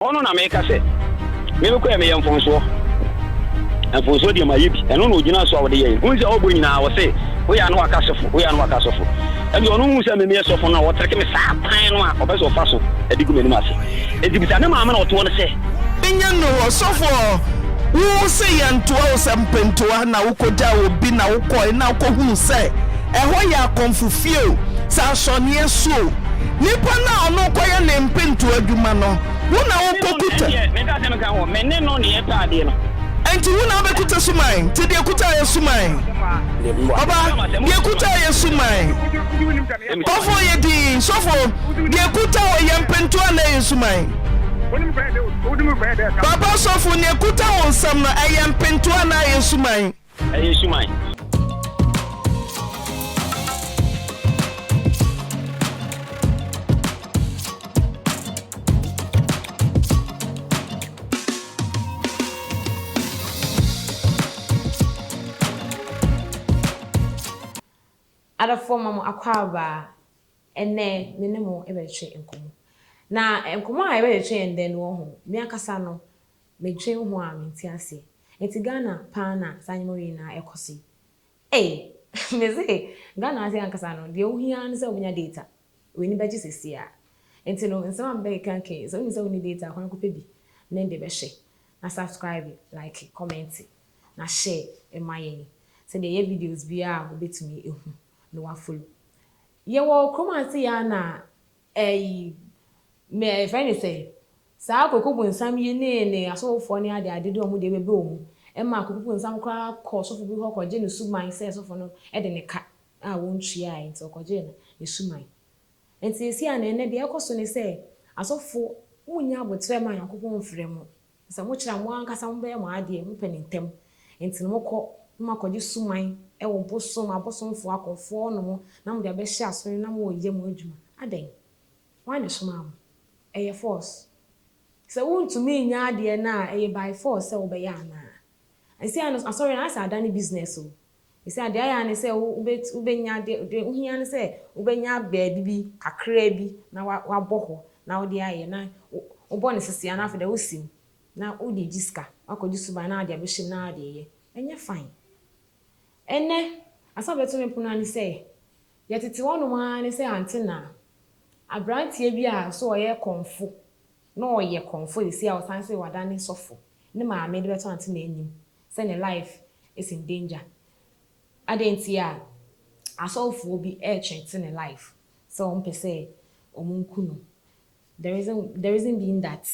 Hɔ no na meka sɛ, Me me kɔ ɛ meyɛ mfomsoɔ. Mfomsoɔ deɛ mayɛ bi. Ɛno na ɔgyina so a ɔde yɛn. Hunu sɛ ɔbɔ nyinaa ɔse, Woyɛ a na waka sɔfo, woyɛ a na waka sɔfo. Ɛnti ɔno nhunu sɛ me meyɛ sɔfo no a ɔtreke me saa kwan no a ɔpɛ sɛ ɔfa so de gu m'anim ase. Ɛnti bisa ne maame na ɔtoɔ no sɛ. Nyɛ no ɔsɔfoɔ. Wo se yɛntoa wo sɛ mpentoa na wokɔgyaa obi na wokɔe na wokɔhunu sɛ ɛhɔ yɛ akɔmfo fie o, sɛ asɔneɛ so o, Nipa no a ɔno rekɔyɛ ne mpentow adwuma no, wo na wokokuta. Me ne no na ɛndeɛ, menka sɛ menka ho, me ne no na yɛtɔ adeɛ no. Enti wo na wobɛkuta suman? Nti deɛ ɛkuta yɛ suman. Ɔba, deɛ ɛkuta yɛ suman. Kɔfoɔ, yɛ dinn. Sɔfoɔ, deɛ ɛkuta hɔ yɛ mpentow anaa ɛyɛ suman? Papa sɔfo, nea ɛkuta wo nsam no, ɛyɛ mpentow anaa ɛyɛ suman? Ɛyɛ suman. Adɔfoɔ ma mo akwaaba a. Ɛnnɛ me ne mo bɛtwetwe nkɔmmɔ. Na nkɔmmɔ a yɛbɛtwetwe yɛ ndɛ no wɔ ho, me ankasa no, Medwen ho a mente aseɛ. Nti Ghana paa na saa nneɛma wei nyinaa ɛkɔ so yi? Ei! Me se Ghana ase ankasa no deɛ wohia ara ne sɛ wobɛnya data. W'ani bɛgye seesei ara. Nti no nsɛm a mebɛkeka nka yi, sɛ wonim sɛ wonni data a kwan kɔpɛ bi ne de bɛhwɛ na subscribe, like, comment na share ma yɛn sɛdeɛ yɛyɛ videos biara a wobɛtumi ahu na woafollow. Yɛwɔ kurom ase yi ara na Ɛyi, me, yɛfrɛ no sɛn? Saa Koko bonsam yi ne ne asɔfofoɔ ne adeade de wɔn deɛ bɛbɛ wɔn mu. Ɛma Koko bonsam koraa kɔ ɔsɔfo bi hɔ kɔgye ne suman sɛ sɔfo no de ne ka a wɔntuaae nti ɔkɔgyee no ne suman. Nti seesei a na ɛnnɛ deɛ ɛrekɔ so ne sɛ asɔfo monnya aboterɛ mma Nyankopɔn mfrɛ mo. Na sɛ mokyerɛ a, mo ankasa mobɛyɛ mo adeɛ, mopɛ no ntɛm. Enti no mokɔ na moakɔgye suman wɔ bosom abosomfoɔ akɔmfoɔ hɔ nom na mode abɛhyɛ aso no na moreyɛ mo adwuma. Adɛn? Hwan na ɛsomaa mo? Ɛyɛ force. Sɛ wontumi nyɛ adeɛ no a, ɛyɛ by force sɛ wobɛyɛ anaa? Ɛnseɛ no asɔre no ayɛ sɛ adane business o. Esiane deɛ ayɛ ara ne sɛ wobɛtu, wobɛnya, deɛ, deɛ wohia ne sɛ wobɛnya baabi bi kakraa bi na wa, wabɔ hɔ na wode ayɛ, na wo, wobɔ no sese a na afei deɛ wosi mu na wode regye sika, woakɔgye suban na wode abɛhyɛ mu na wode reyɛ. Ɛnyɛ fine. Ɛnnɛ, asɛm a ɛbɛto me pono ara ne sɛ, deɛ tete hɔnom ara ne sɛ ante na aberanteɛ bi a so ɔyɛ kɔmfo Na ɔyɛ kɔmfo seesei a ɔsan se wadane sɔfo. Ne maame de bɛto Antenna anim sɛ ne life is in danger. Adɛn nti a asɔfoɔ bi ɛretweete ne life sɛ wɔmpɛ sɛ wɔnku no. The reason the reason being that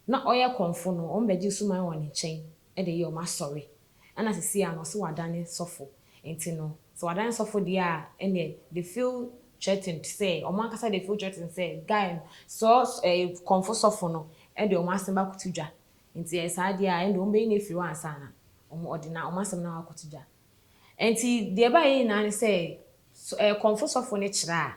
na ɔyɛ kɔmfo no wɔbɛgye suman wɔ ne nkyɛn de yɛ wɔn asɔre. ɛna sesei a no ɔse wadane sɔfo nti no sɛ wadane sɔfo deɛ a ɛneɛ they feel threatened sɛ ɔmo ankasa they feel threatened sɛ guy no sɛ ɛɛ kɔmfo sɔfo no ɛde ɔmo asɛm akoto dwa nti ɛyɛ saa deɛ a ɛnde ɔmo bɛyi no afiri hɔ ansa na ɔmo ɔde na ɔmo asɛm no akoto dwa nti deɛ ɛbaeɛ nyinaa ne sɛ ɛɛ kɔmfo sɔfo no kyerɛ a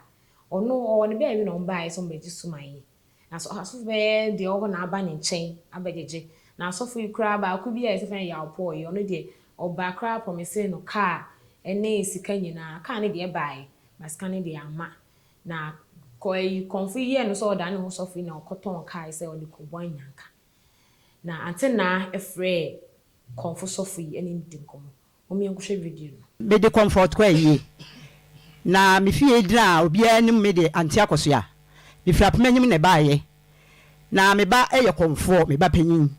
ɔno ɔwɔ ne baabi na ɔmo baeɛ sɛ ɔmo bɛgye suman yi Na so asɔfo bɛyɛ deɛ ɔwɔ hɔ na aba ne nkyɛn abɛgyegye? Na asɔfo yi koraa baako bi a yɛse fɛ no Yaw Paul yi, ɔno deɛ ɔbaa koraa promisee no kaa ne sika nyinaa, kaa no deɛ baaɛ, but sika no deɛ amma. Na kɔ ayi kɔmfo yi yɛɛ no sɛ ɔdaa ne ho sɔfo yi na ɔkɔtɔn kaa yi sɛ ɔde kɔbɔ anyanka. Na antenaa frɛɛ kɔmfo sɔfo yi ne no dii nkɔmmɔ. Mom yɛn kɔhwɛ video no. Me de comfort kɔ ayie. Na me fie gyina obiara anim me de Auntie Akosua. Me firi Apomanyim na ɛbaeɛ. Na me ba yɛ kɔmfoɔ, me ba panin.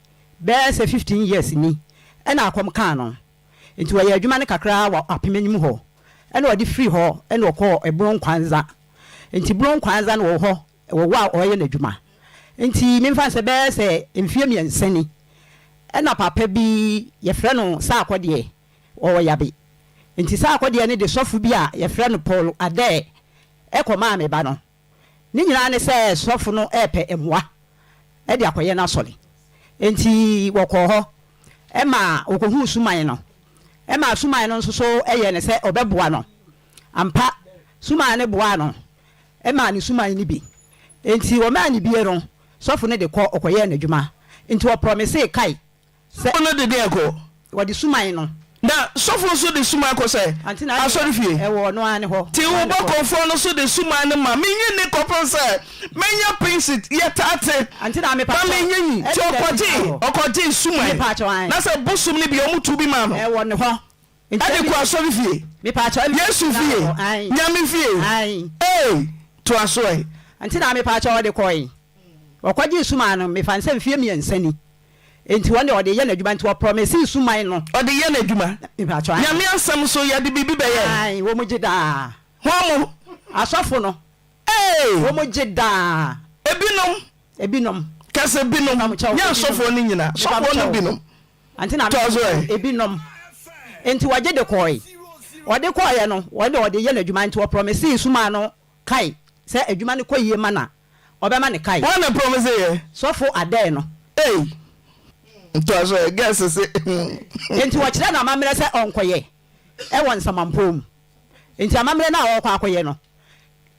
Bɛyɛ sɛ fifteen years ni na akɔm kaa no. Nti ɔyɛɛ adwuma no kakra wɔ Apomanyim hɔ na ɔde firii hɔ na ɔkɔɔ Ebronkwanza. Nti Bronkwanza no ɔwɔ hɔ Wɔ hɔ a ɔreyɛ n'adwuma nti memfa no sɛ bɛyɛ sɛ mfeɛ mmiɛnsa ni ɛna papa bi yɛfrɛ no Saakɔ deɛ ɔwɔ yabe nti Saakɔ deɛ no de sɔfo bi a yɛfrɛ no Paul Adair ɛkɔmaa me ba no ne nyinaa ne sɛ sɔfo no ɛɛpɛ mmoa ɛde akɔyɛ n'asɔre nti wɔkɔɔ hɔ ɛma ɔkɔhuu Suman no ɛmaa Suman no nso so ɛyɛɛ no sɛ ɔbɛboa no ampa Suman no boaa no maa ne suman no bi. Enti wɔmaa no bi no, sɔfo no de kɔ, ɔkɔyɛɛ n'adwuma. Enti wɔprɔmisee Kai sɛ. No de deɛn kɔ? Wɔde suman no. Na sɔfo nso de suman kɔ sɛ? Asɔrefie. Ɛwɔ ɔno ara ne hɔ. Te wo bɔkɔɔfoɔ no nso de suman no ma. Menyi nni kɔpem sɛ mɛnya pensit. Yɛtaa te. Na menyi nyi. Nti ɔkɔgyee, ɔkɔgyee suman. Na sɛ bosom no bi, wɔtuu bi maa no. Ɛwɔ ne hɔ. Ɛde kɔ asɔre fie, Yesu fie, Nyame fie ei! Toa so ɛ! Nti na mepakyɛw ɔde kɔe. Ɔkɔgyee suman no mefa no sɛ mfeɛ mmiɛnsa ni nti wɔn deɛ ɔde yɛ n'adwuma nti wɔ promisee suman no. Ɔde yɛ n'adwuma. Mepakyɛw ae. Nyame asɛm nso yɛde biribi bɛyɛ ɛ. Ae wɔn gye daa. Hwan mo? Asɔfo no. Ee! Wɔn gye daa. Ebinom. Ebinom. Kɛse binom. Mepakyɛw. Ebinom. Nyɛ asɔfoɔ no nyinaa. Mepakyɛw. Sɔfoɔ no binom. Ante na mese mo ebinom. Enti wɔgye de kɔɔe. Wɔde kɔɔeɛ no, wɔn deɛ wɔde yɛ no adwuma, enti wɔprɔmesee sumaa no kae sɛ adwuma no kɔ yie ma no a, wɔbɛma no kae. Hwan na prɔmeseeɛ? Sɔfo Adair no. Ei! Toa so ɛ, Guest se. Enti wɔkyerɛɛ no amammerɛ sɛ ɔnkɔyɛ wɔ nsamanpɔw mu. Enti amammerɛ no a ɔrekɔ akɔyɛ no,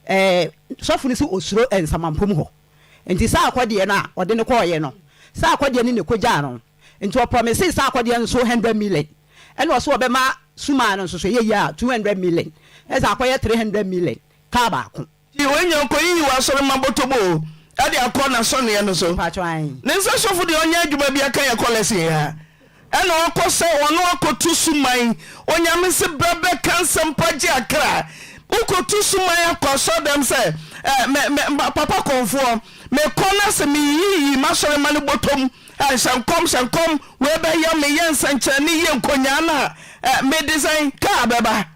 ɛɛ, sɔfo no sɛ osuro nsamanpom hɔ. Enti saa akɔdeɛ no a ɔde no kɔeɛ no, saa akɔdeɛ no na ɛkɔgyaa no. Enti ɔprɔmisee saa akɔdeɛ no so hundred million, ɛna ɔse ɔbɛma Sumaa no nso so, ɛyɛ yie a, two hundred million, ɛsɛ akɔyɛ three hundred million, kaa baako. Nti woanya okoyiyi w'asɔre ma bɔtɔbɔ o ɛde akɔ n'asɔneɛ no so. Ne nsa sɔfo deɛ ɔnyɛ adwuma bia ka yɛ kɔ lesson ya ɛna ɔkɔ sɛ ɔno akɔto suman onyame se bra bɛ ka nsɛmpa gye akra wo kɔto suman akɔ asɔre dɛm sɛ eh me me papa kɔnfoɔ me kɔ na se me yiyi m'asɔre ma no bɔtɔm eh hyɛ nkɔm hyɛ nkɔm wei bɛ yɛ me yɛ nsɛnkyerɛne yie nkonyaa na eh me de sɛn kaa bɛba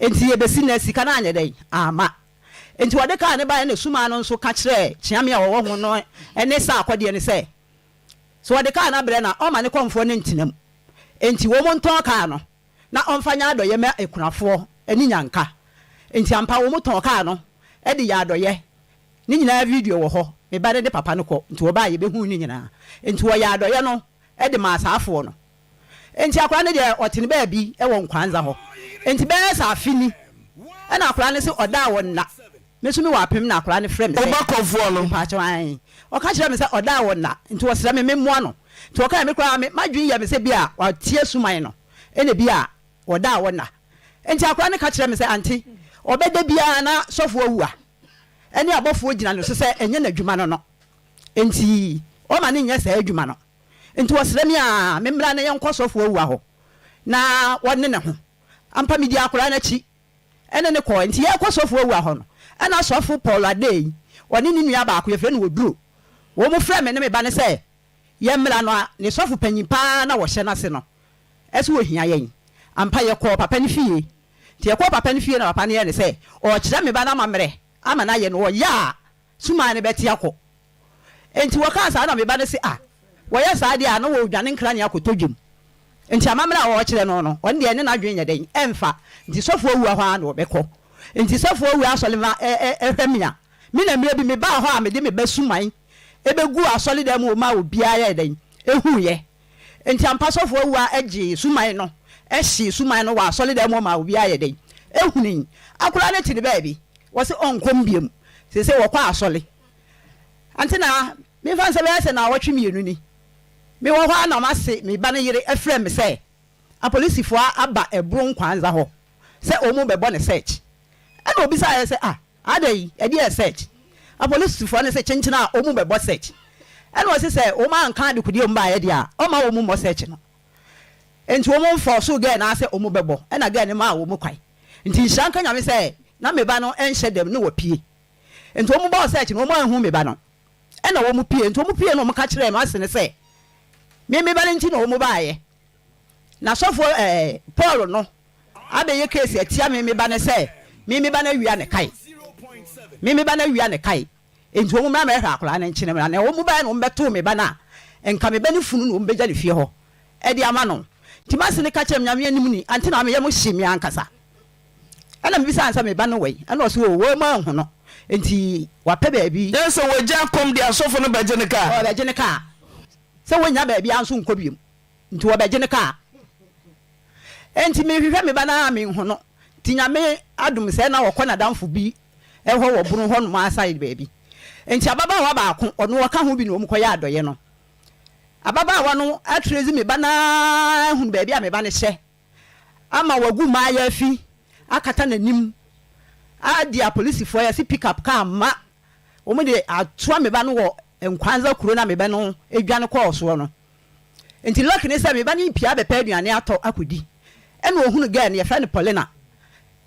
Enti ebesi nnɛ sika no anyɛ dɛn? Amma. Enti wɔde kaa no bae na sumaa no nso ka kyerɛɛ kyeame a wɔwɔ ho no ne saa akɔdeɛ no sɛ, sɛ wɔde kaa no abrɛ no a, ɔmma ne kɔmfoɔ no ntena mu. Enti wɔntɔn kaa no na ɔmfa nyɛ adɔeɛ mma akunafoɔ ne nnyanka. Enti ampa wɔtɔn kaa no de yɛɛ adɔeɛ. Ne nyinaa video wɔ hɔ. Me ba no de papa no kɔ, nti wɔba a yɛbɛhunu ne nyinaa. Enti wɔyɛɛ adɔeɛ no de maa saa afoɔ no. Enti akwadaa no deɛ ɔte ne baabi wɔ Nkwanza hɔ. Enti bɛyɛ sɛ afe ni, ɛna akwadaa no se ɔdaa wɔ nna. Me nso mewɔ apem na akwadaa no frɛ me sɛ. Woba kɔfoɔ no. Mpakyɛw ae. Ɔka kyerɛɛ me sɛ ɔdaa wɔ nna, nti ɔsrɛ me memmoa no. Nti ɔkaeɛ, me koraa me m'adwene yɛɛ me sɛ bia wate asuman no, ɛna bia ɔdaa wɔ nna. Enti akwadaa no ka kyerɛɛ me sɛ ante, ɔbɛda biara na sɔfoɔ awu a, ɛne abɔfoɔ gyina ne so sɛ ɛnyɛ n'adwuma no no, enti ɔmma no nyɛ saa adwuma no. Enti wɔsrɛ me a memmra na yɛnkɔ ɔsɔfo Ouah hɔ na wɔne ne ho. Ampa midii akwadaa no akyi ne no kɔe. Enti yɛrekɔ ɔsɔfo Ouah hɔ no, ɛnna Ɔsɔfo Paul Adei, ɔne ne nua baako, yɛfrɛ no Oduro, wɔfrɛɛ me ne me ba no sɛ yɛmmra no a ne sɔfo panyin pa ara na wɔhyɛ n'ase no so ohia yɛn. Ampa yɛkɔɔ papa no fie. Enti yɛkɔɔ papa no fie na papa no yɛɛ no sɛ ɔrekyerɛ me ba no amammerɛ ama no ayɛ no, ɔyɛ a, Sumaa no bɛte akɔ. Enti wɔkaa saa na me ba no se, Ah, wɔyɛ saa deɛ a na wɔredwane nkrane akɔtɔ dwam. Enti amammerɛ a wɔrekyerɛ no no, ɔno deɛ ɛne n'adwene nyɛ dɛn, ɛmfa. Enti sɔfoɔ awura hɔ ara na ɔbɛkɔ. Enti sɔfoɔ awura asɔre ma ɛ, ɛ, ɛhwɛ me a, me na mmerɛ bi mebaa hɔ a mede me ba Suman bɛguu asɔredan mu hɔ maa obiara yɛɛ dɛn? Huiɛ. Enti ampa sɔfo awu a ɛgyee suman no hyee suman no wɔ asɔredan mu hɔ maa obiara yɛ dɛn? Hunii. Akwadaa no te ne baabi. Wɔse ɔnkɔ mu biom. Seesei wɔkɔ asɔre. Ante na memfa nsɛ bɛyɛ sɛ naawɔtwe mmienu ni, mewɔ hɔ ara na mase me ba no yere afrɛ me sɛ apolisifoɔ aba Ɛboro Nkwanza hɔ sɛ wɔrebɛbɔ no search. Ɛna ɔbisaeɛ sɛ, Ah, Adɛn ɛdeɛ search? Apolisfoɔ no se kyenkyen a ɔmu bɛbɔ search. Ɛna ɔse sɛ ɔmu anka adekodeɛ a ɔmu baeɛ deɛ a ɔmma ɔmu mmɔ search no. Nti ɔmu forcoo girl no ara sɛ ɔmu bɛbɔ ɛna girl no maa ɔmu kwan. Nti nhyira nka Nyame sɛ na meba no nhyɛ dɛm na wapue. Nti ɔmu bɔɔ search no ɔmu anhu meba no ɛna ɔmu pue. Nti ɔmu pue na ɔmu ka kyerɛɛ no ase no sɛ me meba no nti na ɔmu baeɛ. Na sɔfo eh, Paul no abɛyɛ case atia me, me ba no sɛ, me me ba no awia ne kae, me me ba no awia ne kae, enti wɔn mmra mɛhwɛ akwadaa no nkyene mmra, na wɔn baɛ na wɔn bɛtoo me ba no a, nka me ba no funu na wɔn bɛgya ne fie hɔ de ama no, nti mase no ka kyerɛ me, Nyame anim ni, ante na meyɛ mo hye me ankasa. Ɛna mebisa no sɛ, me ba no wɛn? Ɛna ɔse, oo wɔn mu anhu no, enti wapɛ baabi. Kyerɛ sɛ wɔagya kɔm deɛ asɔfo no bɛgye no kaa? Wɔbɛgye no kaa, sɛ wɔnnya baabi a nso nkɔ biom. Nti wɔbɛgye no kaa. Nti mehwehwɛ me ba no ara a menhu no. Nti Nyame adom sɛ na ɔkɔ n'adamfo bi hɔ wɔ Bono hɔ nom ara side baabi. Nti ababaawa baako, ɔno ɔka ho bi na wɔn kɔyɛ adɔyɛ no. Ababaawa no akyerɛ dzi me ba no ara ahunu baabi a me ba no hyɛ ama wagu maayafi akata n'anim adi apolisifoɔ yɛ se pick up car ma wɔn de atoa me ba no wɔ Nkwanza kuro no a me ba no dwane kɔɔ soɔ no. Nti luck ne sɛ me ba no yi pia bɛpɛ aduane atɔ akɔdi. Ɛna ɔhunu girl no, yɛfrɛ no Paulina.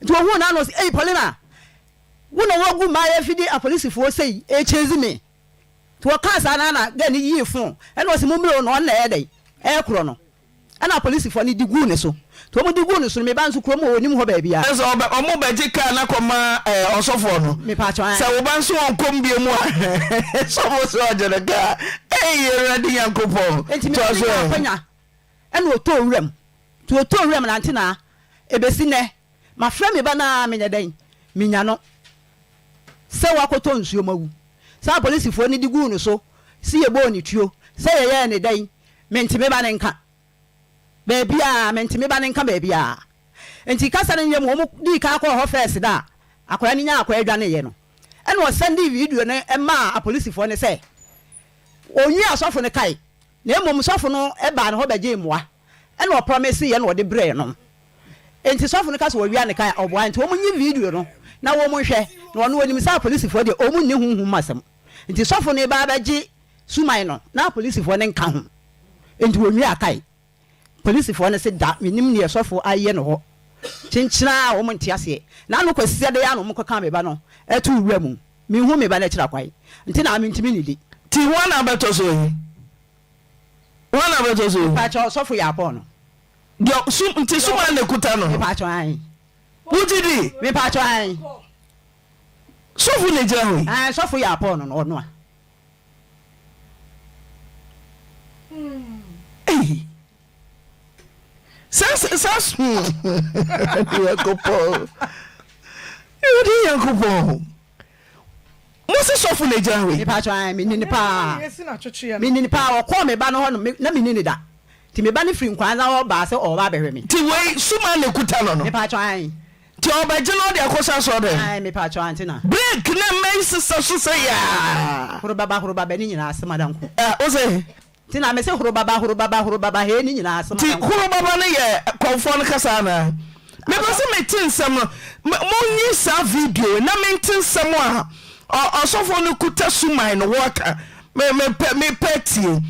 Nti ɔhuu no a na ɔse, Ei Paulina, wo na woagu m'ayɛ fi de apolisifoɔ sei ɛrechase me. Nti ɔkaa saa no a na girl no yii phone, ɛna ɔse mommrɛ o na ɔno na ɛyɛ dɛn? Ɛrekorɔ no. Ɛna apolisifoɔ no de guu ne so. Nti wɔde guu no so no, me ba nso kurom hɔ wɔnnim hɔ baabiara. Kyerɛ sɛ ɔbɛ, wɔn bɛgye kaa no akɔma ɛɛ ɔsɔfoɔ no. Me paatwɔ, ae. Sɛ wo ba nso ɔnkɔm bio mu a, sɔfo sɛ ɔgye no kaa. Eii Awurade Nyankopɔn! Nti me ba Toa no so nyaa ɛ. akwanya ɛna ɔtɔɔ wuram. Nti ɔtɔɔ wuram na nti na ɛbɛsi nnɛ mafrɛ me ba no ara menyɛ dɛn? Menya no sɛ wakɔtɔ nsuo mu awu. Saa apolisifoɔ no de guu no so se yɛbɔɔ no tuo sɛ yɛyɛɛ no dɛn? Mente me ba no nka. baabiaa, mente me ba no nka baabiaa. Nti kasa no nyɛ mu, wɔn dii kan kɔɔ hɔ first da a akwadaa no nyaa akwadaa dwaneeɛ no, ɛna ɔsɛndee video no maa apolisifoɔ no sɛ wɔnwia sɔfo no kae, na mmom sɔfo no baa ne hɔ bɛgyee mmoa, ɛna ɔprɔmeseeɛ na ɔde brɛɛ no. Nti sɔfo no ka sɛ wɔawia no kae a, ɔboa. Nti wɔnyi video no na wɔnhwɛ, na ɔno ɔnim sɛ apolisifoɔ deɛ wɔnni honhom mu asɛm, nti sɔfo no reba abɛgye Suman no, na apolisifoɔ no nka ho, enti wɔnwiaa kae. Polisifoɔ no se, Da, mennim deɛ sɔfoɔ ayɛ no hɔ. Kyenkyena a wɔn nte aseɛ. Na ano kɔsisɛ dɛn ara na wɔkɔkaa me ba no too wura mu. Menhuu me ba no akyira kwan, nti na mentumi nnidi. Nti hwan na abɛtɔ so ayi? Hwan na abɛtɔ so ayi? Mepakyɛw, sɔfo Yaakɔɔ no. Deɛ, sum, nti suman na ɛkuta no? Mepakyɛw, aane. Wogye di? Mepakyɛw, aane. Sɔfo na ɛgyina hɔ yi? Aane, sɔfo Yaakɔɔ no, ɔno a. Ei! Saa saa saa Nyankopɔn. Awurade Nyankopɔn. Mo se sɔfo na gyina we. Mepa kyɛ me nini paa. Me nini paa ɔkɔɔ me ba no hɔ no na me nini da. Ti me ba no firi nkwanza hɔ baa sɛ ɔba abɛhwɛ me. Ti wei suma na ekuta no no. Mepa kyɛ. Nti ɔbɛgye no ɔde akɔ sa sɔ dɛn? Ae mepakyɛw ante na. Break na mma yi sesa so sɛ yaa. Horobaba horobaba ne nyinaa se madan ko. Ɛ wo se. Nti na me se horobaba horobaba horobaba hee ne nyinaa se madan ko. Nti horobaba no yɛ kɔmfoɔ no kasa anaa? Me pɛ se mete nsɛm no mo nyi saa video yi na mente nsɛm a ɔ ɔsɔfoɔ no kuta suman no wɔka me me pɛ me pɛ tie.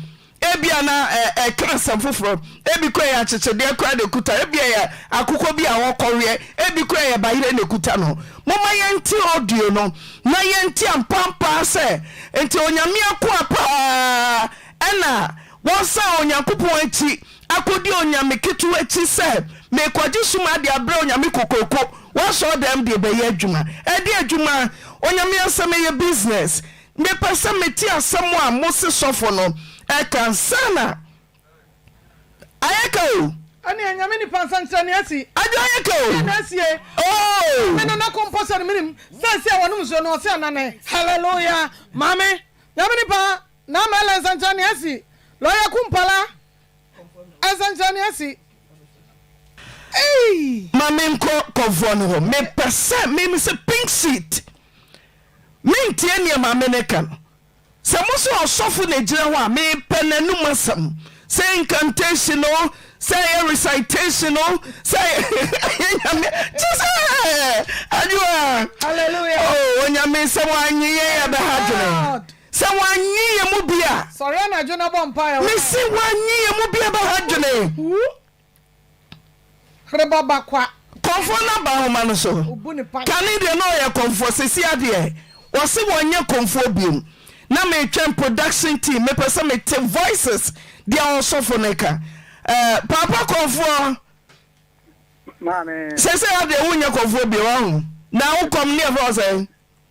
Ebia na ɛka asɛm foforɔ, ebi koraa ɛyɛ akyekyedeɛ koraa na ɛkuta, ebia ɛyɛ akokɔ bi a ɔrekɔweɛ, ebi koraa ɛyɛ bayerɛ na ɛkuta no. Momma yɛnte audio no na yɛnte ampa ampa ara sɛ nti Onyame akoa paa ɛna wɔsan Onyankopɔn akyi akɔdi onyame ketewa akyi sɛ merekɔgye som adeɛ abrɛ Onyame kokoroko w'asɔɔdɛm de ɛbɛyɛ adwuma. Ɛdeɛ adwuma? Onyame asɛm ɛyɛ business. Mepɛ sɛ mete asɛm a mose sɔfo no ɛka ansa na ayɛka o. Ɛneɛ Nyame nipa nsɛnkyerɛnee asi. Adwo ayɛka o. Yei na asie oo. Maame no nako mpo sɛ no menim sɛ asi a wɔnom nsuo no ɔse anane. Hallelujah maame. Nyame nipa Naa Mɛla nsɛnkyerɛnee asi. Lɔya Kumpala nsɛnkyerɛnee asi. Ei. Ma menkɔ kɔvoɔ no hɔ. Mepɛ sɛ me mese pink seat. Mentie nneɛma a mene ka no. Sɛ mo sɛ ɔsɔfo na gyina hɔ a, mepɛ n'anom asɛm. Sɛ incantation o, sɛ ɛyɛ recitation o, sɛ ɛyɛ nyame kyɛ sɛ adwoa. Hallelujah. Oh, onyame sɛ wɔanye yɛn yɛ bɛha dwene. Sɛ wɔanye yɛn mu bi a. Sɔre anadwo na bɔ mpaeɛ. Mesi wɔanye yɛn mu bi a bɛha dwene. Reba ba kwa. Kɔmfoɔ no aba nwoma no so. Kane deɛ na ɔyɛ kɔmfoɔ sesia deɛ wɔse wɔnyɛ kɔmfoɔ biom na metwɛn production team mepɛ sɛ mete voices deɛ ɔsɔfo no ka eh paapa kɔmfoɔ sesia deɛ wonyɛ kɔmfoɔ biom wahu na wokɔm neɛfrɛ wo sɛn.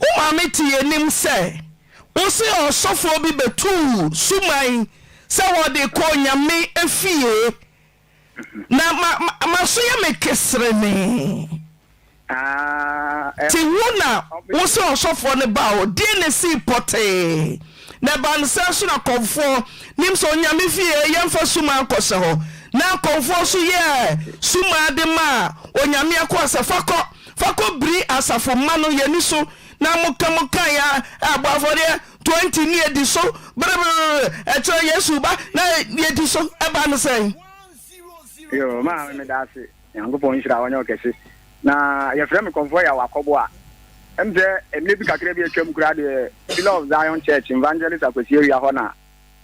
Wo maame te yɛn anim sɛ wose ɔsɔfoɔ bi bɛtuu suman sɛ wɔde kɔ Onyame fie na maso yɛ me keserenee. Te wo na wose ɔsɔfoɔ no ba hɔ deɛ na esii pɔtee na ɛbaa no sɛ nso na kɔmfoɔ nim sɛ Onyame fie yɛmfa suman nkɔsɛ hɔ na kɔmfoɔ nso yɛɛ suman de maa Onyame akoa sɛ fa kɔ Fa kɔ biri asafo mma no yɛn ani so na mo ka mo kan a ɛbɔ afɔdeɛ twenty ne yɛdi so brɛbrɛbrɛ ɛkyerɛ Yesu ba na yɛdi so ɛba no sɛn? Yoo maame meda ase Nyankopɔn nhyira ɔnyɛ ɔkɛse na yɛfrɛ me kɔmfoɔ yɛ awakɔbo a ɛm sɛ ɛmɛ bi kakra bi atwam koraa deɛ Pillar of Zion Church Evangelist Akwasi Awia hɔ na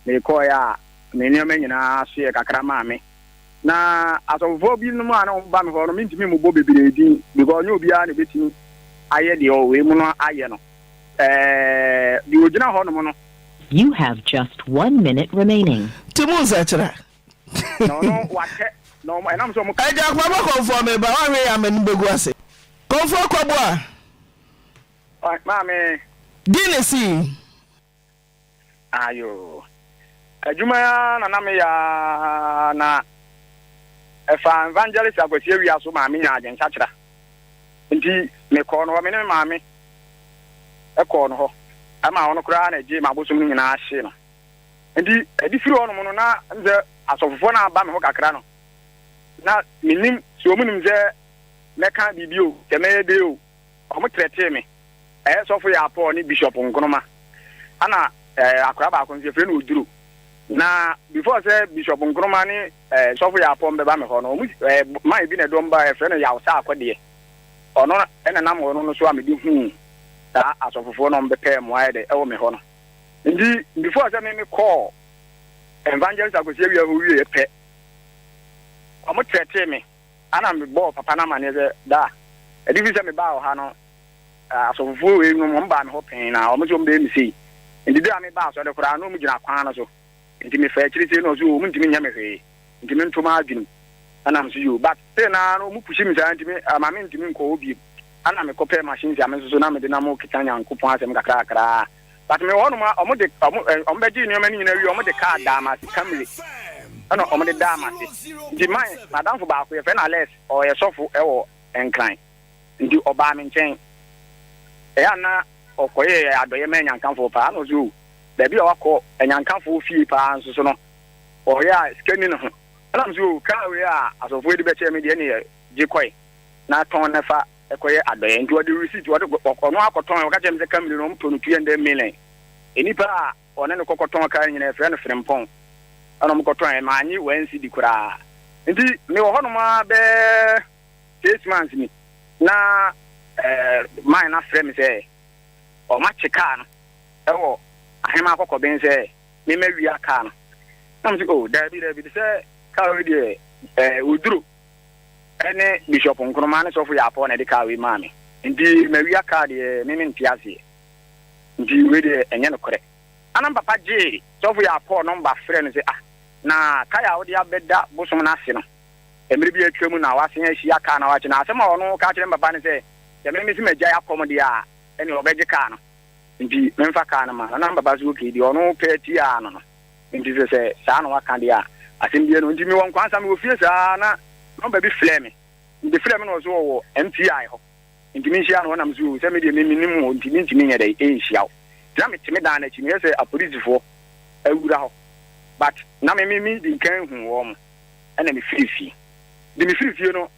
mekɔeɛ a, me nneɛma nyinaa soeɛ kakra maa me. Na asɔfofoɔ binom a na wɔba me hɔ no, mentumi mmobɔ bebree din because ɛnyɛ obiara na ɛbɛtumi ayɛ deɛ ɔwɔ wei mu no ayɛ no. Ɛɛ, deɛ ɔgyina hɔnom no. You have just one minute remaining. Ti mu nsakyera. Na ɔno wakyɛ, na wɔn, ɛnam sɛ wɔka. Agya Kwabɔ Kɔmfoɔ meba, woanhwɛ yɛ a m'anim bɛgu ase. Kɔmfoɔ Kwabɔ a. Maame. Di ne si. Aayoo. Adwuma yi ara na na meyɛ ara na ɛfaa Evangelist Akwasi Awia so maa menyaa adwensakyera. Nti mekɔɔ no hɔ, me ne me maame kɔɔ no hɔ ma ɔno koraa na ɛgyee m'abosom no nyinaa hyee no. Nti ɛde firi hɔnom no na ɛm sɛ asɔfofoɔ no aba me ho kakra no, na mennim sɛ wɔnim sɛ mɛka biribi o, sɛ mɛyɛ dɛn o, Wɔkyerɛkyeree me ɛyɛ sɔfo Yaa Paul ne Bishop Nkrumah. Ɛna akwadaa baako nso yɛfrɛ no Oduro. Na before sɛ Bishop Nkrumah ne sɔfo Yaa Paul bɛba me hɔ no, wɔn man bi na ɛde wɔn baeɛ yɛfrɛ no Yaw Saa Akɔdeɛ. Ɔno ɛna nam ɔno no so a mede huu saa asɔfofoɔ na wɔbɛpɛɛ mmoa ayɛ dɛ ɛwɔ me hɔ no. Nti before sɛ me me kɔɔ Evangelist Akwasi Awia hɔ wieɛ pɛ, wɔkyerɛkyeree me. Ana mebɔɔ papa no amanneɛ sɛ, Da a ɛde fi sɛ mebaa wɔ ha no, asɔfofoɔ wei nom, wɔbaa me hɔ pɛn, na wɔse wɔbɛyɛ me sei. Enti berɛ a mebaa asɔre koraa no, na wɔgyina kwan no so. Enti mefaa akyiri sei na wɔse oo wɔntumi nyɛ me hwee, enti mento m'adwenem. Ana mese yoo, but still no ara no wɔn pushi me saa nti me ama mentumi nkɔ hɔ bio. Ana mekɔpɛɛ machines a me nso so na mede nam rekeka Nyankopɔn asɛm kakra kakra ara. But mewɔ hɔnom a, wɔn de wɔn ɛ wɔn bɛgyee nneɛma no nyinaa wie, wɔn de kaa daa m'ase, Camry ɛna wɔn de daa m'ase. Nti my m'adamfo baako yɛfrɛ no Alex, ɔyɛ sɔfo ɛwɔ Nkran, nti ɔbaa me nkyɛn, ɛyɛ a na ɔkɔyɛɛ adɔeɛ ma Anyankafoɔ paa, ɛna ɔse o, baabi a wakɔ Anyankafoɔ fie paa nso so no, ɔyɛ a sika nni ne ho, ɛna mese o, kaa wei a asɔfoɔ yi de bɛkyɛɛ me deɛ ɛneɛ gye kɔe na tɔn na fa, ɛkɔyɛ adɔeɛ nti ɔde receipt ɔde ɔno akɔtɔn ɔka kyerɛ me sɛ kamiri no wɔn tɔ no two hundred million nnipa a ɔne no kɔkɔtɔn kaa no nyinaa efrɛ no frempɔn ɛna wɔn kɔtɔn maa nye wɔn nsi di koraa nti me wɔ hɔnom ara bɛɛ six months ni na ɛɛ man na frɛ me sɛ wɔn akye kaa no ɛwɔ ahema akɔkɔben sɛ mema wia kaa no na mo sɛ oh daabi daabi de sɛ kaa wei deɛ ɛɛ oduro. ɛne Bishop Nkrumah ne Sɔfo Yarpɔɔ na ɛde kaa wei maa me nti mawia kaa deɛ me mente aseɛ nti wei deɛ ɛnyɛ nokorɛ. Ana me papa gyee Sɔfo Yarpɔɔ nɔmba frɛɛ no sɛ ah na kae a wode abɛda bosom no ase no mmerɛ bi atwa mu na wasen ahyia kaa no awakye na asɛm a ɔno ka kyerɛ me papa ne sɛ sɛ me mese magyae akɔm deɛ a ɛneɛ ɔbɛgye kaa no nti memfa kaa no ma no na me papa se okay deɛ ɔno pɛ tiaa no no. Enti sɛ, sɛ saa na waka deɛ a, asɛm biara nni hɔ. Enti mewɔ Nkwansa, mewɔ fie saa ara na nɔmba bi frɛɛ me. Mede frɛɛ me na ɔse ɔwɔ MTI hɔ nti menhyia no hɔ na mese oo sɛ medeɛ me mennim hɔ nti mentumi nyɛ dɛn ɛnhyia wo. Nti na mete me dan no akyi, mehwɛ sɛ apolisifoɔ awura hɔ but na me me medi nkan huu wɔn ɛna mefiri fie. Nti mefiri fie no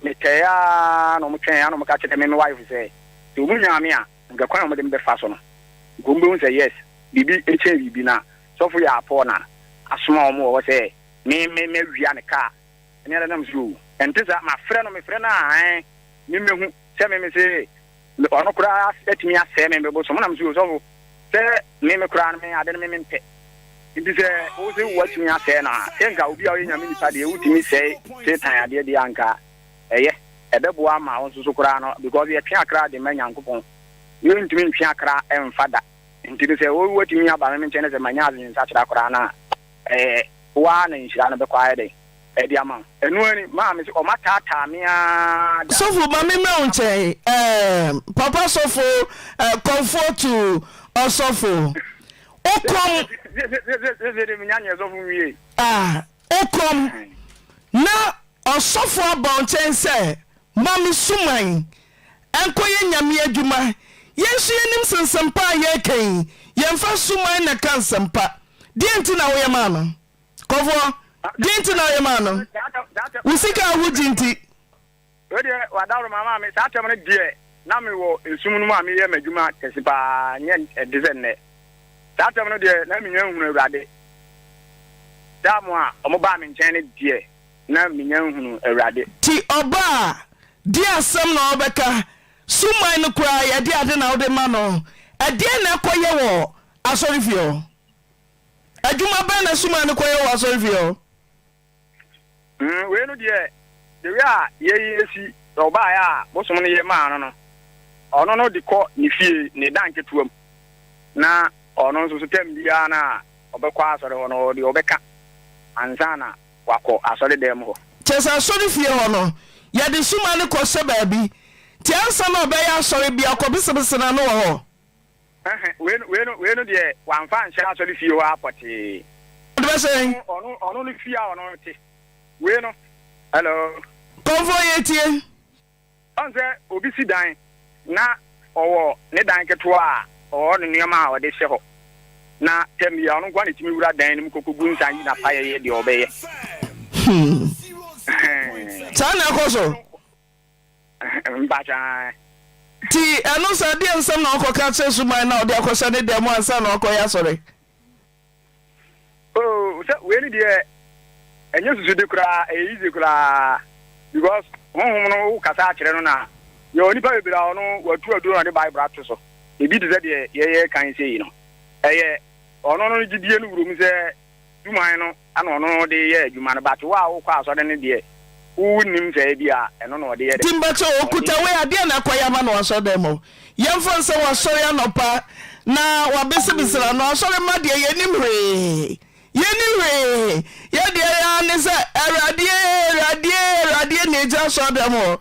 metwɛɛ ara na wɔtwɛn ara na wɔka kyerɛɛ me me wife sɛ sɛ wɔnyaa me a, Nhwɛ kwan a wɔde me bɛfa so no, nka wɔbɛhu sɛ yes, biribi kyɛn biribi, na sɔfo yi a Paul na asoma wɔn wɔ hɔ sɛ me me me wia ne kaa ne ara nam so oo. Ɛnte saa, mafrɛ no, mefrɛ no a ae, me mmɛhu sɛ me me se me ɔno koraa atumi asɛe me me bosom, wonam so oo, sɔfo, sɛ me me koraa no me ade no me mempɛ, nti sɛ wo se woatumi asɛe no a, sɛ nka obi a ɔyɛ Nyame nipa deɛ, wotumi sɛe Satan adeɛ deɛ a, nka. Ɛyɛ, ɛbɛboa ama wo nso so koraa no because yɛtwe akra de ma Nyankopɔn. Yɛrentumi ntwe akra mfa da. Nti no sɛ woatumi aba me nkyɛn na sɛ manya adwensakyera koraa no a, ɛɛ, wo ara na nhyira no bɛkɔ ayɛ dɛn? Ɛde ama wo. Ɛno ara ni, maa mese wɔataataa me ara da. Sɔfo ma me mmra wo nkyɛn ɛɛm, papa sɔfo, ɛɛ, kɔmfoɔ to ɔsɔfo. Wo kɔm. Sese, sese, sese deɛ menya nyɛ sɔfo nwiei. Ah. Okom, na ɔsɔfo abɔ nkyɛn sɛ, Ma me suman nkɔyɛ Nyame adwuma. Yɛn nso yɛnim sɛ nsɛmpa a yɛreka yi, yɛmfa suman na ɛka nsɛmpa. Deɛn nti na woyɛ maa no? Kɔfoɔ, Deɛn nti na woyɛ maa no? Wo sika a wogye nti. Wei deɛ wadaworo maa maa me saa tɛm no deɛ na me wɔ nsum no mu a me yɛ m'adwuma kɛse paa nyɛ ɛde sɛ nnɛ saa tɛm no deɛ na me nya nhunu awurade da mo a ɔmo baa me nkyɛn no deɛ na me nya nhunu awurade. Ti ɔba a deɛ asɛm na ɔbɛka suman no koraa yɛ deɛ ade na wode ma no ɛdeɛn na ɛkɔ yɛ wɔ asɔre fie hɔ adwuma bɛn na suman no kɔ yɛ wɔ asɔre fie hɔ. Mm, wei no deɛ, the way a yei esi, sɛ ɔbaeɛ a, bosom no yɛ maa no no, ɔno no de kɔ ne fie, ne da nketewa mu, na ɔno nso so tam biara no a ɔbɛkɔ asɔre hɔ no, ɔwɔ deɛ ɔbɛka ansa na wakɔ asɔre dan mu hɔ. Kyerɛ sɛ asɔre fie hɔ no, yɛde suma no kɔhyɛ baabi, nti ansa na ɔbɛyɛ asɔre biara, ɔkɔbesebese n'ano wɔ hɔ. Ɛhɛ, wei no, wei no, wei no deɛ wamfa anhyɛ asɔre fie hɔ ara pɔtee. Ɔde bɛsɛ yɛn. Ɔno, ɔno, ɔno no fie a ɔno te. Wei no, hello. Kɔmfoɔ yɛtie. Ɔn sɛ obi si dan na ɔwɔ ne dan ketewa a ɔwɔ ne nneɛma a ɔde hyɛ hɔ na tɛm bi a ɔno nko ara na etumi wura dan no mu kɔkɔgu nsa yi n'apaeɛ yɛ deɛ ɔbɛyɛ. Hmm. Ɛhɛn. Saa na ɛkɔ so. Nti ɛno saa deɛ nsɛm na ɔkɔ ka kyerɛ suman na ɔde akɔhyɛ ne dan mu ansa na ɔkɔ yɛ asɔre. Oh sɛ wei ni deɛ ɛnyɛ susu de koraa ɛyɛ easy koraa because honhom no wo kasa akyerɛ no na yɛ onipa bebree a ɔno watu aduro na de bible ato so ebi te sɛ deɛ yɛyɛ kan sɛ yi no ɛyɛ ɔno no gyidie no wuro mu sɛ Dwuman no na ɔno de yɛ adwuma no but wo a wokɔ asɔre no deɛ wo nnim sɛ ebia ɛno na ɔde yɛ de. Timba sɛ ɔkuta wei a deɛn na akɔyɛ ama no wɔ asɔredɛm hɔ? Yɛmfa no sɛ wasɔre anɔpa na wabesebese n'ano, asɔre mma deɛ yɛnnim hwee, yɛnni hwee, yɛn deɛ yɛn ara ne sɛ Awurade ee, Awurade ee, Awurade ee na ɛgyina asɔredɛm hɔ.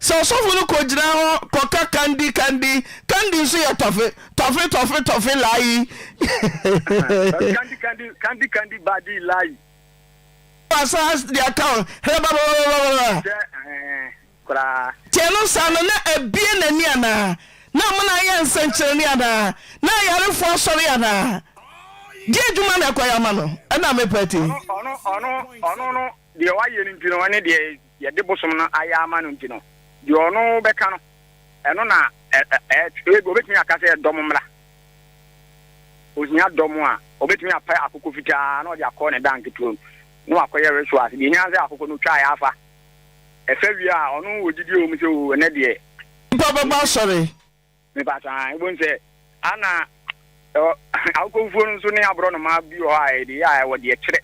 Sɛ ɔsɔfo no kogyina hɔ kɔka Kandi, Kandi, Kandi nso yɛ Tɔfe, Tɔfe, Tɔfe, Tɔfe, Layi. Ahaa, Kandi, Kandi, Kandi, Kandi, Badi, Layi. Wasan de aka hɔ, Herɛbababababababa. Sɛ ɛɛ, koraa. Teɛ no saa no, na abue n'ani anaa? Na amena ayɛ nsɛnkyerɛnne anaa? Na ayarefoɔ asɔre anaa? Deɛ adwuma na ɛkɔyɛ ama no, ɛna mepɛ te. Ɔno, ɔno, ɔno, ɔno no, deɛ wayɛ no nti no, ɛne deɛ. yɛde bosom no ayɛ ama no nti no, deɛ ɔno bɛka no, ɛno na ɛ, ɛ, ɛ, ebi wɔbɛtumi aka sɛ ɛyɛ dɔm mmara. Ohia dɔm a, wɔbɛtumi apɛ akokɔ fitaa na ɔde akɔ ne danke turo mu na wakɔyɛ rituals. Deɛ ehia sɛ akokɔ no twaeɛ afa. Ɛfa wie a, ɔno wɔ gyidie wɔ mu sɛ, oo, ɛnnɛ deɛ. Nnipa bɛba asɔre, Mepakyɛ aa wobɛhu sɛ ana ɛwɔ awokɔfufuo no nso ne aborɔnoma bi wɔ hɔ a yɛde yɛ a ɛwɔ deɛ kyerɛ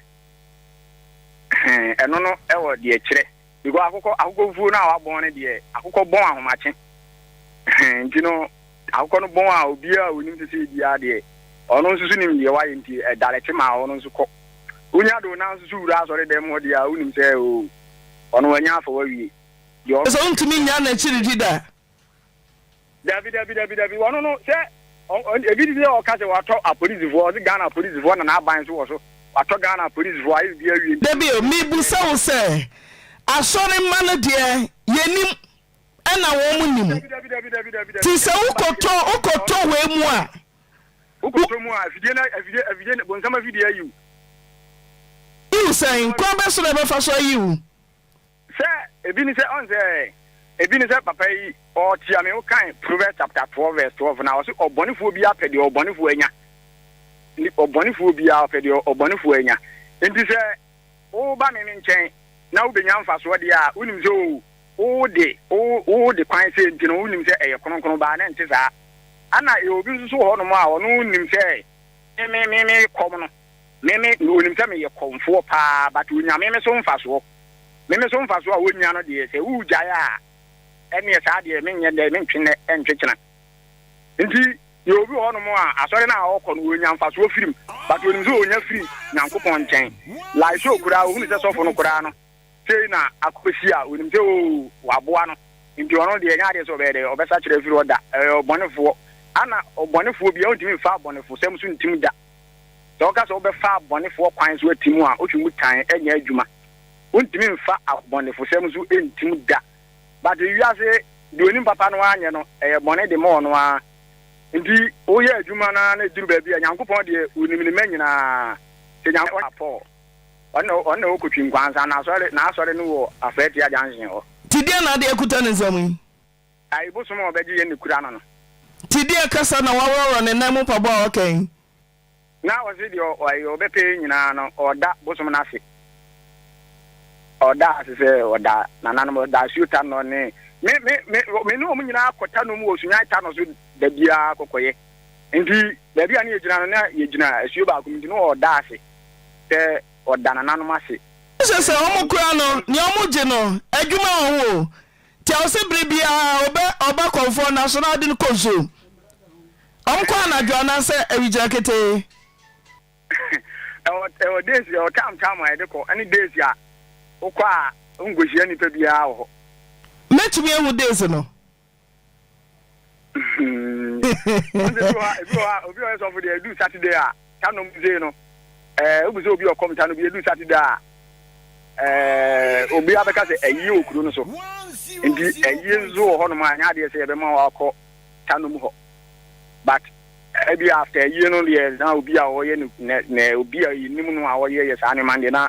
ɛhɛn ɛno no ɛwɔ deɛ kyerɛ because akokɔ akokɔfufuo no a wabɔn no deɛ akokɔ bɔn ahomakye ɛhɛn nti no akokɔ no bɔn a obiara a onim sese biara deɛ ɔno nso so nim deɛ wayɛ nti ɛdalɛkye ma ɔno nso kɔ wonya de onan nso so wura asɔre dɛm hɔ deɛ a wonim sɛ oo ɔno wanya afa wawie deɛ ɔno. Sɛ wontumi nnya n'akyiri di da. Dabi dabi dabi dabi ɔno no sɛ ebi ti sɛ ɔka sɛ watɔ apolisifoɔ ɔse Ghana apolisifoɔ na n'aban nso wɔ so watɔ Ghana apolisifoɔ ayɛ bibi awie nti. Dabi o mibisa wo sɛ asɔre mma no deɛ yɛnim ɛna wɔn nim ti sɛ wokɔtɔ wokɔtɔ wei mu a. Wokɔtɔ mu a afidie na afidie afidie bonsam afidie ayiw. Yiw sɛn kwan bɛ so na ɛbɛfa so ayiw. Sɛ ebi ne sɛ, ɔn sɛ ebi ne sɛ papa yi ɔɔtsia me, wokan Proverbs chapter twelve verse twelve no a, ɔse ɔbɔnefoɔ biara pɛ deɛ ɔbɔnefoɔ anya, nti ɔbɔnefoɔ biara ɔpɛ deɛ ɔbɔnefoɔ anya, nti sɛ woba me nkyɛn na wobɛnya mfasoɔ deɛ a, wonim sɛ oo, wode wo wo de kwan sei nti no wonim sɛ ɛyɛ kronkron, baa na ɛnte saa, ana yɛwɔ obi nso so wɔ hɔnom a ɔno nim sɛ me me me kɔm no. Me me me onim sɛ meyɛ kɔmfoɔ paa but onya me me so mfasoɔ me me so mfasoɔ a ɔnya no deɛ sɛ wogyae a ɛneɛ saa deɛ menyɛ dɛn mentwe nnɛ ɛntwe kyena nti yɛ obi wɔ hɔnom a asɔre no a ɔkɔ no ɔnya mfasoɔ firim but onim sɛ ɔnya firi Nyankopɔn nkyɛn like sɛ ɔkuraa ɔhunu sɛ sɔfo no koraa no Sei na akosi a onim sɛ oo wɔaboa no nti ɔno deɛ ɛnyɛ adeɛ sɛ ɔbɛyɛ dɛ, ɔbɛsakyera afiri hɔ da. Ɔyɛ ɔbɔnefoɔ. Ana ɔbɔnefoɔ biara wontumi mfa abɔnefosɛm so ntim da? Sɛ woka sɛ wobɛfa abɔnefoɔ kwan so atim a, wotwe mu tan, ɛnyɛ adwuma. Wontumi mfa abɔnefosɛm so ntim da. But wiase deɛ onim papa no ara nyɛ no, ɛyɛ bɔne de ma ɔno ara. Nti woyɛ adwuma no ara na ɛduru baabi a, Nyankopɔn deɛ onim ne mma nyinaa. Sɛ Nyankopɔn a Paul. Ɔno ɔno na ɔkɔtwi nkwa ansa n'asɔre n'asɔre no wɔ Afɛtia junction hɔ. Nti deɛ na ade akuta ne nsam yi? Ayi bosom a ɔbɛgye yɛn na ɛkura no no. Nti deɛ kasa na waworɔworɔ ne nan mu mpaboa a ɔka yi? Na ɔse deɛ ɔyɛ ɔbɛpɛ yɛn nyinaa no ɔda bosom no ase. Ɔda ase sɛ ɔda nananom ɔda asuo tanɔ ne me me me me ne wɔn nyinaa kɔ tanɔ mu wɔ Sunyani tanɔ so da biara kɔkɔyɛ. Enti baabi a na yɛgyina no, na yɛgyina asuo baako mu, enti na ɔda ase sɛ ɔda nananom ase. Kyerɛ sɛ wɔn kura no, nea wɔgye no, adwuma wɔ ho o, nti ɛwɔ sɛ bere biara ɔbɛ ɔba kɔmfoɔ no aso na ɔde no kɔ nsuo mu. Wɔkɔ anadwo anaasɛ awigyina ketee. Ɛwɔ ɛwɔ days, ɛwɔ time time a yɛde kɔ, ɛne days a wokɔ a wonkɔhyia nnipa biara wɔ hɔ. Mɛtumi ahu days no? ɔnde bi wɔ ebi wɔ hɔ a obi ɔyɛ sɔfo deɛ edu saturday a ta nom dze no ɛɛ eh, obi sɛ obi ɔkɔm ta no bi edu saturday a ɛɛ eh, obi abɛka sɛ ayie wɔ kuro no so nti ayie nso wɔ hɔnom a nyɛ adeɛ sɛ yɛbɛma wɔ akɔ ta nom hɔ but ebi after ayie no deɛ na obi a ɔyɛ ne ne obi a yɛnim no a ɔyɛ yɛ saa nneɛma deɛ na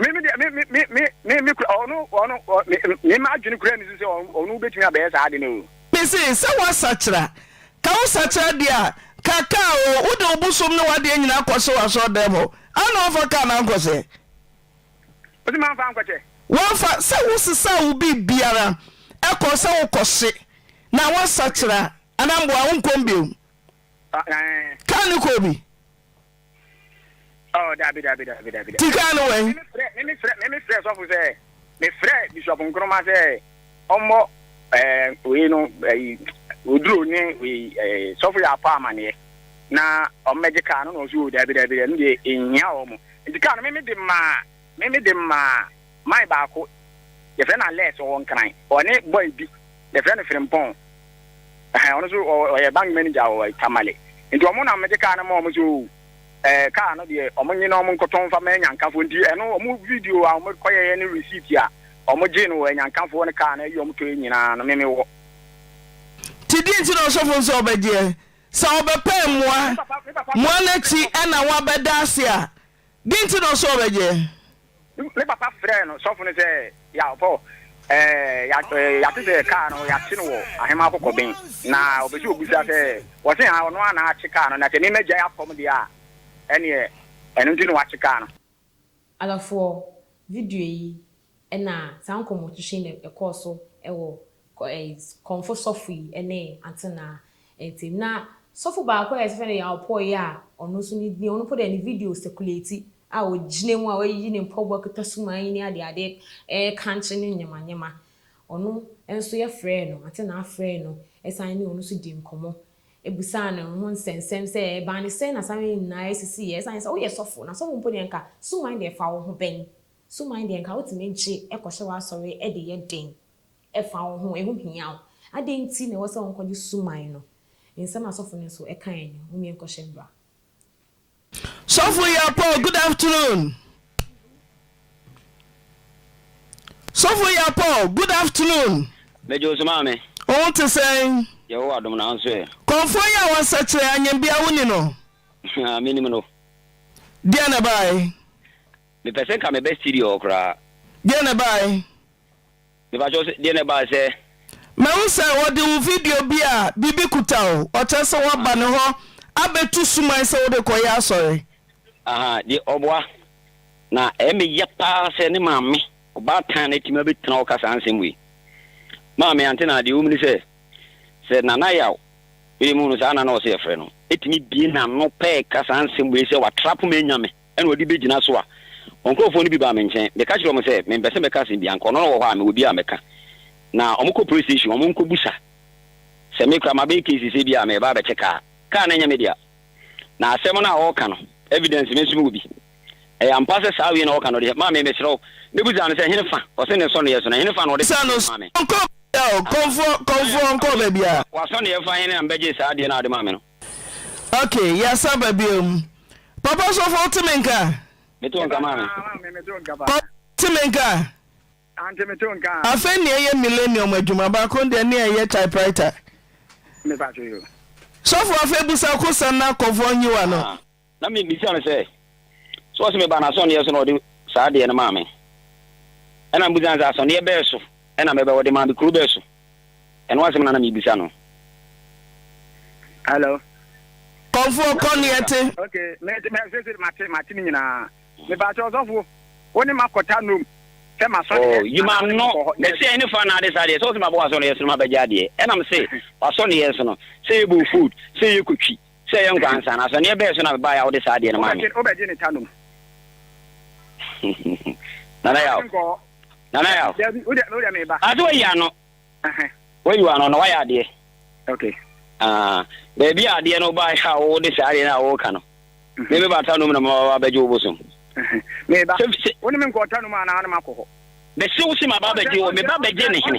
me me deɛ me me me me me kura ɔno ɔno me me ma adwene kura ne so sɛ ɔno bɛtumi abɛyɛ saa ade no o. mese sɛ woasakyera ka wo sakyera deɛ a ka kaa o wode wo bosom ne woadeɛ nyinaa kɔ hye w'asɔre dɛm hɔ a na wamfa kaa no ankɔhyɛ ɔsi ma nfa nkɔkyɛ. wamfa sɛ wo sesaa wo biribi biara ɛkɔ sɛ wokɔ hye na woasakyera anaa mboa wo nkɔm biom kaa ne kɔɔ bi. Oh, dabi, dabi, dabi, dabi, dabi. Tika no wɛn. Mimi frɛ, mimi frɛ, mimi frɛ sɔfo sɛ, me frɛ Bishop Nkrumah sɛ, ɔmmɔ ɛɛ wei no ɛyi oduro ne wei ɛɛ sɔfo yɛ apɔ amaneɛ na ɔmmɛgye kaa no na ɔsi o dabi dabi dabi deɛ ehia wɔn nti kaa no mimi de maa. Me me de maa man baako yɛfrɛ no Alex ɔwɔ Nkran ɔne boy bi yɛfrɛ no Frimpong ɛhɛn ɔno nso ɔyɛ bank manager wɔ Tamale nti ɔmo na mede kaa no maa ɔmo sɛ oo ɛɛ kaa no deɛ ɔmo nye na ɔmo nkɔtɔ mfa ma Anyankafoɔ nti ɛno ɔmo video a ɔmo kɔyɛɛ ne receipt a ɔmo gyee no wɔ Anyankafoɔ ne kaa no ɛyi ɔmo tɔɛ nyinaa no me me wɔ. Nti deɛ nti na ɔsɔfo nso ɔbɛgyeɛ sɛ ɔbɛpɛɛ mmoa mmoa no akyi ɛna wabɛda ase a. Dɛn nti na ɔsɛ ɔbɛgye? Me papa frɛɛ no sɔfo no sɛ, Yaw, Paul, eh, yɛate sɛ kaa no yɛakye no wɔ Ahemmaa Kɔkɔben, na ɔpɛ sɛ ɔbisa sɛ, wɔse ha ɔno ara na akye kaa no, na sɛ me magyae apam deɛ a, ɛneɛ ɛno nti na wakye kaa no. Alafoɔ, video yi, Ɛna saa nkɔmmɔtu hye na ɛkɔɔ so wɔ Kɔmfo sɔfo yi ne Antenaa ntam. Na sɔfo baako a yɛfrɛ no Yaopoe a ɔno nso ne din, ɔno mpo deɛ ne video sɛkulati a ɔgyina mu a wayiyi ne mpaboa kita sumaa yi ne adeade rekankye no nyemanyema. Ɔno nso yɛfrɛɛ no, Antenaa frɛɛ no san ne ɔno nso dii nkɔmmɔ bisaa no ne ho nsɛnsɛm sɛ ɛbaa ne sɛn na saa nneɛma yi nyinaa sisiiɛ. Ɛsiane sɛ woyɛ sɔfo, na sɔfo mpo deɛ anka suman deɛ ɛfa wo ho bɛn? Suman deɛ nka wotumi gye kɔhyɛ w'asɔre de yɛ den fa wo ho, ɛho hia wo. Adɛn nti na ɛwɔ sɛ wonkɔgye suman no? Nsɛm a sɔfo no nso kae ni, Mummie nkɔhyɛ mmra. Sɔfo Yapoh, Good afternoon. Sɔfo Yapoh, Good afternoon. Megye wo so maame. Wo ho te sɛn? Yehowa dom na wo nso ɛ? Kɔmfoɔ yi a wasa kyerɛ anyambia wo ni no? Mennim no. Deɛn na ɛbaeɛ? Mepɛ sɛ nka mebɛ studio hɔ koraa. Deɛ na ɛbaae? Mepakyɛw sɛ, deɛ na ɛbaa sɛ? Mahu sɛ wɔde wo video bi a biribi kuta wo, ɔkyerɛ sɛ woaba ne hɔ abɛtu suman sɛ wode kɔyɛ asɔre. Aha, deɛ ɔboa. Na ɛyɛ me ya paa sɛ ne maame, ɔbaatan no atumi abɛtena hɔ aka saa nsɛm wei. Maame Antenah, deɛ ɛwom ne sɛ, sɛ Nana Yaw, mede mehuu no saa na na ɔsɛ yɛfrɛ no, tumi bue n'ano pɛɛ ka saa nsɛm wei sɛ watrap me anya me. na ɔde bɛgyina so a, wɔn nkurɔfoɔ no bi baa me nkyɛn. Meka kyerɛɛ wɔn sɛ, Mempɛ sɛ mɛka asɛm biara, anka ɔno na ɔwɔ hɔ a, mewɔ bi a mɛka. Na wɔkɔ police station, wɔnkɔbusa. Sɛ me koraa, mabɛyɛ case sɛ ebia mereba abɛkyɛ kaa. Kaa no nyɛ me dea. Na asɛm no a wɔreka no, evidence me nso mewɔ bi. Ɛyɛ ampa sɛ saa wei na wɔreka no deɛ, maame, mesrɛ wo. Mebisaa no sɛ, Ɛhe ne fa? Ɔse ne nsɔneeɛ so. Na ɛhe ne fa na ɔde kaa no maa me? Aha. Ɔsɔneeɛ fa he na mebɛgyee saa adeɛ no a wode maa me no? Ok yɛasan ba biom. Papa Ɔsɔfo wote me nka? Meto wo nka maame. Papa Ɔsɔfo wote me nka? Ante meto wo nka. Afei nea ɛyɛ millennium adwuma baako deɛ ne a ɛyɛ typewriter. Mepa kyɛ yo. Sɔfo afei busa kosa na kɔvɔn yiwa no. Ah. Na mebisa no sɛ, So ɔse mebaa n'asɔnneɛ so na ɔde saa adeɛ no maa me? Ɛna mebisa no sɛ, Asɔnneɛ bɛɛ so na mɛbɛ ɔde maa me, kuro bɛɛ so? Ɛno asɛm na na mebisa no. Hello. Kɔmfoɔ kɔ neɛ te. Ok me de me sese mate mate ne nyinaa me ba kyɛ ɔsɔfo wo ne ma kɔta nom sɛ ma sɔ deɛ. Oh you ma no ne sɛ ne fa na ade saa deɛ sɛ ɔsɛ ma bɔ asɔ ne yɛ so ma bɛgya adeɛ ɛnam se wasɔ ne yɛ so no sɛ yɛ bɔ food sɛ yɛ kɔtwi. Sɛ ɛyɛ nkwa ansa no, asɔneɛ bɛɛ so na mebaeɛ a wode saa adeɛ no maa me? Wobɛgye ne ta nom. Nana Yaw. Nana Yaw. Ase wayi ano. Wayi w'ano na wayɛ adeɛ. Okay. Ah, baabi a adeɛ no baeɛ a wode saa adeɛ no a woka no. Mhm. Me meba ta nom na maba bɛgye wo bosom. Mhm. Meba. Wo ne me nkɔ ta nom anaa ne makɔ hɔ. Bɛse wo se maba bɛgye wo, meba bɛgye ne hene.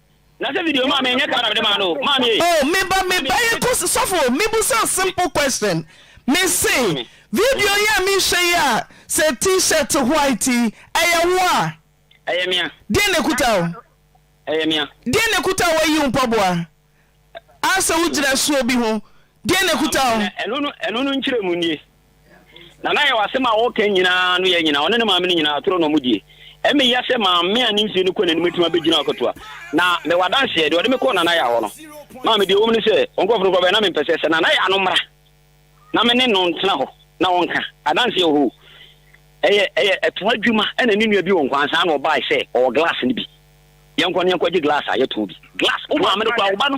Na sɛ video maame ɛnyɛ kaa na mede maa no o maame ee. Oh me ba me ba yɛ kose sɔfo me busa simple question me se video yi a me hwɛ yi a sɛ t-shirt white yi ɛyɛ wo a. Ɛyɛ me a. Deɛ na ɛkuta wo. Ɛyɛ me a. Deɛ na ɛkuta wo ayi wo mpaboa a sɛ wo gyina suo bi ho deɛ na ɛkuta wo. Ɛno no ɛno no nkyerɛ mu nie. Nana Yaw asɛm a ɔɔka nyinaa no yɛ nyina ɔne ne maame no nyinaa atoro na ɔmo die. Ɛme ya sɛ maame a ne mfie no kɔ n'anim atumi abɛgyina akatua. Na mewɔ adanseɛ, deɛ ɔde me kɔɔ Nana Yaw hɔ no, maame deɛ ɛwom ne sɛ ɔnkorɔfo no kora bɛyɛ na mempɛ sɛ sɛ Nana Yaw no mmra na me ne no ntena hɔ na ɔnka adanseɛ wɔ hɔ o. Ɛyɛ ɛyɛ ɛtoa adwuma ɛna ne nua bi wɔ Nkwaa ansa na ɔbaae sɛ ɔwɔ glass no bi. Yɛnkɔ na yɛnkɔgye glass a yɛtɔn bi. Glass! Wo maame no kora wo ba no.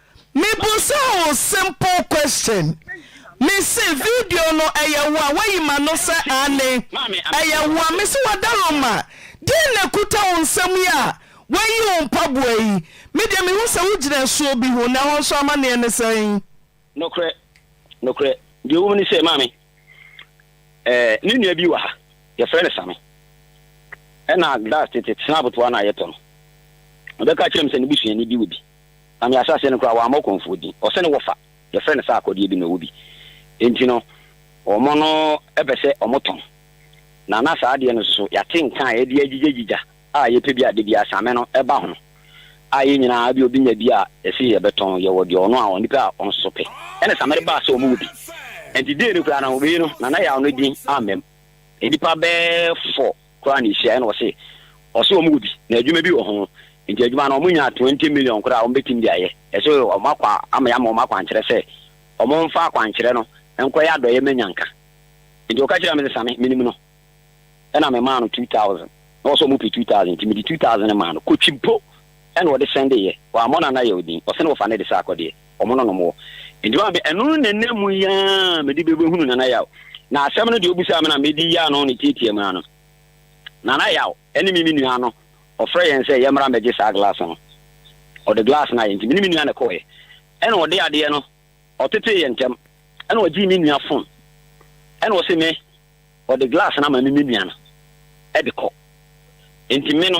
Mebusaa wo simple question me se video no ɛyɛ woa wayi mano sɛ aane ɛyɛ woa me se wada roma deɛn na ɛkuta wo nsam yi a wayi wo mpaboa yi me deɛ me hu sɛ wo gyina asuo bi ho na ɛhɔ nso amaneɛ ne sɛn. Nokorɛ nokorɛ deɛ ɛwɔ mu ne sɛ maame ɛɛ me nua bi wɔ ha yɛfrɛ no Same ɛna glass tete snap toa no a yɛtɔ no ɔbɛka kyerɛ me sɛ ne busuani bi wɔ bi. Na me ahyɛaseɛ no koraa, wɔammɔ ɔkɔmfoɔ din. Ɔsɛ ne wɔfa, yɛfrɛ no saa akɔdeɛ bi na ɔwɔ bi. Enti no, wɔn no pɛ sɛ wɔtɔn. Na na saa adeɛ no nso so, yɛate nka a yɛde agyigyagyiga a yɛpɛ bi a da biara same no ba ho. A yɛn nyinaa, ebia obi nya bi a, yɛse yɛbɛtɔn, yɛwɔ deɛ ɔno a onipa a ɔno nso so pɛ. Ɛna same no baa sɛ wɔwɔ bi. Enti dei no koraa no, wei no, na na yɛawo no din ammam nnipa bɛɛ four. koraa na ehyia na ɔse ɔse wɔn wɔ bi na adwuma bi wɔ ho nti adwuma no wɔn nyaa twenty million koraa a wɔn bɛtim de ayɛ ɛse wɔn akwa ama yɛ ama wɔn akwankyerɛ sɛ wɔn nfa akwankyerɛ no nkɔyɛ adɔyɛ ma nyanka nti ɔka kyerɛ me se same menim no ɛna me maa no two thousand na ɔse wɔn pɛ two thousand nti mede two thousand no maa no kɔtwi mpo Ɛna ɔde hyɛn de yɛ. Wammɔ no anaa yɛ odin. Ɔse no wɔfa no de sɛ akɔdeɛ. Wɔmo no nom wɔ. Nti wan me ɛno na ɛna mu yi aa mede bɛ bɛhunu Nana Yaw. Na asɛm no deɛ ɔbusaa me na medi yɛ ano no tiatia mu ano. Nana Yaw ɛne me me nua no ɔfrɛ yɛn sɛ yɛmmra mmɛgye saa glass no. Ɔde glass no ayɛ. Nti me ne me nua na ɛkɔɔeɛ. Ɛna ɔde adeɛ no ɔtetee yɛn ntɛm. Ɛna ɔgyee me nua phone. Ɛna ɔse me ɔde glass no ama me me nua no ɛde kɔ. Nti me no.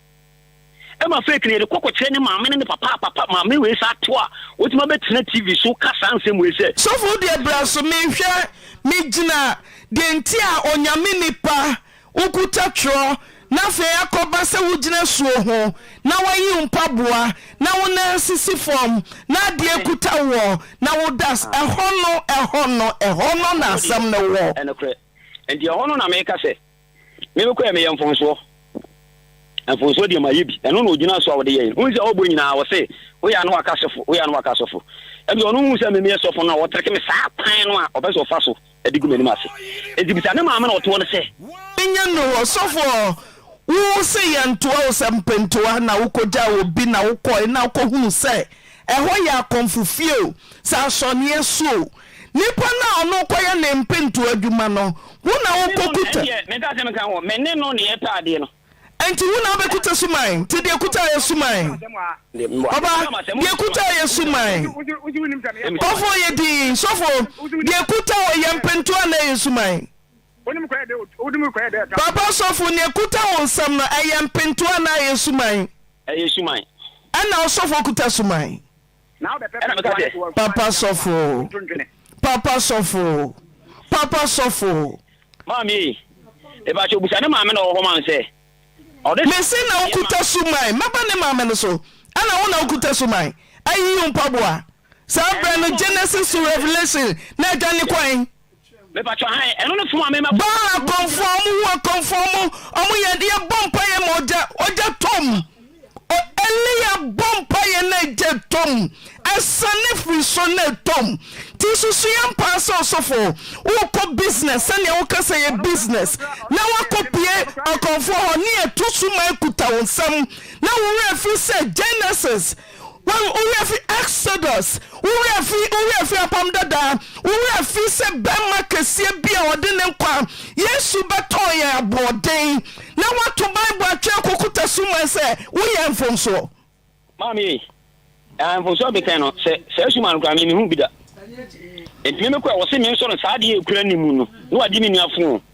Ɛma fake no yɛde kɔ kɔkyerɛ ne maame ne ne papa a papa maame wei saa ato a wɔtumi abɛtena TV so ka saa nsɛm wei sɛ. Sɔfo wo deɛ bra so mehwɛ megyina deɛ nti a onyame nipa wo kuta twerɛ na afei akɔba sɛ wogyina suo ho na wayi wo mpaboa na wo nan sisi fam na adeɛ kuta woɔ na wo da as ɛhɔ no ɛhɔ no ɛhɔ no na asɛm no wɔ. Ɛnokorɛ nti ɛhɔ no na meka sɛ. Me me kɔɛ meyɛ mfonsoɔ. Mfonsoɔ deɛ mayɛ bi. Ɛno na ɔgyina so a ɔde yɛɛ. Wohu sɛ ɔbɔ nyinaa ɔse woyɛ a na waka sɔfo, woyɛ a na waka sɔfo. Ɛnti ɔno hu sɛ me meyɛ sɔfo no a ɔtreke me saa kwan no a ɔpɛ sɛ ɔfa so de gu m'anim ase. Ɛnti bisa ne maame na ɔtoɔ no sɛ. Ɛnyɛ nnuru hɔ. Sɔfoɔ, wo se yɛntoa wo sɛ mpentoa na wokɔgyaa wɔ bi na wokɔe na wokɔhunu sɛ ɛhɔ yɛ akɔmfo fie o, sɛ asɔneɛ so o, Nipa no a ɔno wokɔyɛ ne mpentow adwuma no, wo na wokokuta. Ɛndeɛ menka asɛm nka ho, me ne no na yɛpɛ adeɛ no. Ɛnti wo na wobɛkuta suman? Nti deɛ kuta yɛ suman. Ɔba, deɛ kuta yɛ suman. Ɔfo yɛ dinn, sɔfo, deɛ kuta wɔ yɛ mpentow anaa ɛyɛ suman? Papa sɔfo, neɛ kuta wo nsam no, ɛyɛ mpentow anaa ɛyɛ suman? Ɛyɛ suman. Ɛna ɔsɔfo kuta suman. Ɛna meka sɛ, Papa sɔfo, papa sɔfo, papa sɔfo. Maame ei, mepakyɛw bisa ne maame na ɔwɔ hɔ ma no sɛ ɔde. Mese na wokuta suman. Mɛba ne maame no so. Ɛna wo na wokuta suman. Ayiyi wo mpaboa. Saa berɛ no Genesis to Revelation na adwane kwan. Baal akɔmfoɔ ɔmo wu akɔmfoɔ ɔmo ɔmo yɛ yɛ bɔ mpaeɛ ma ogya ogya tɔ mu o Elia bɔ mpaeɛ na egya tɔ mu ɛsane firi so na ɛtɔ mu ti susu yɛn paa sɛ ɔsɔfo wokɔ business sɛnea woka sɛ yɛ business na wakɔ pie akɔmfoɔ hɔ ne ɛto su ma ɛkuta wo nsam na wo werɛ firi sɛ Genesis Wo werɛ fi Exodus? Wo werɛ fi, wo werɛ fi Apam Dada? Wo werɛ fi sɛ bɛrima kɛseɛ bi a ɔde ne nkwa, Yesu, bɛtɔn yɛn aboɔden, na woato Bible atwɛɛ kukuta suman sɛ woyɛɛ mfomsoɔ? Maame ei, ah, mfomsoɔ betɛn no, sɛ saa suman no koraa me, mehu bi da. Enti me mekɔ a, wɔse mensɔ no, saa adeɛ a ɛkura ne mu no, na wagye me nua fon.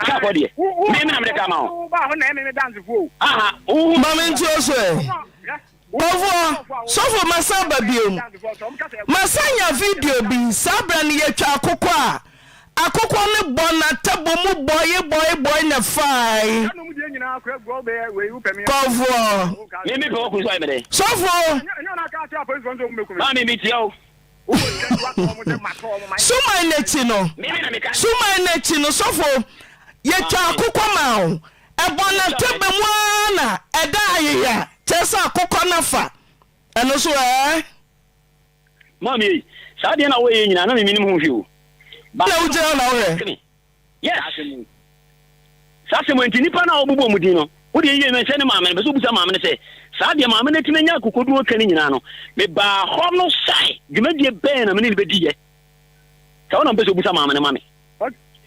Asafo deɛ, me na mede ka ma wo. Aha, wohu. Ma me nturo so ɛ. Ɔfoɔ, sɔfo masan ba biom. Masan nya video bi, saa berɛ no yɛtwa akokɔ a, akokɔ no bɔ na table mu bɔe bɔe bɔe na fae. Ɔfoɔ. Mimi pɛ wo kunu so ayɛ me dɛn? Sɔfo. Maa mimi tia wo. Suman no akyi no, suman no akyi no, sɔfo, yɛtwa akokɔ maa wo. Ɛbɔ n'atɛbɛ mu ara na ɛda ayeya, kyerɛ sɛ akokɔ no afa. Ɛno so ɛɛ? Maame ei, saa deɛ na woyɛ nyinaa na meminim ho hwee o. Ba na wogyina hɔ na wohwɛ. Yes. Saa asɛm wei. Saa asɛm wei nti nnipa no a wɔbobɔ wɔn din no, wo deɛ yie no nhyɛ ne maame no. Ɛpɛ sɛ wobisa maame no sɛ, saa deɛ maame no atumi anya akokoduru ɔtwa no nyinaa no, mebaa hɔ no sɛn? Dwumadie bɛn na me ne no bɛdiiɛ? Saa wo na mepɛ sɛ wobisa maame no ma me.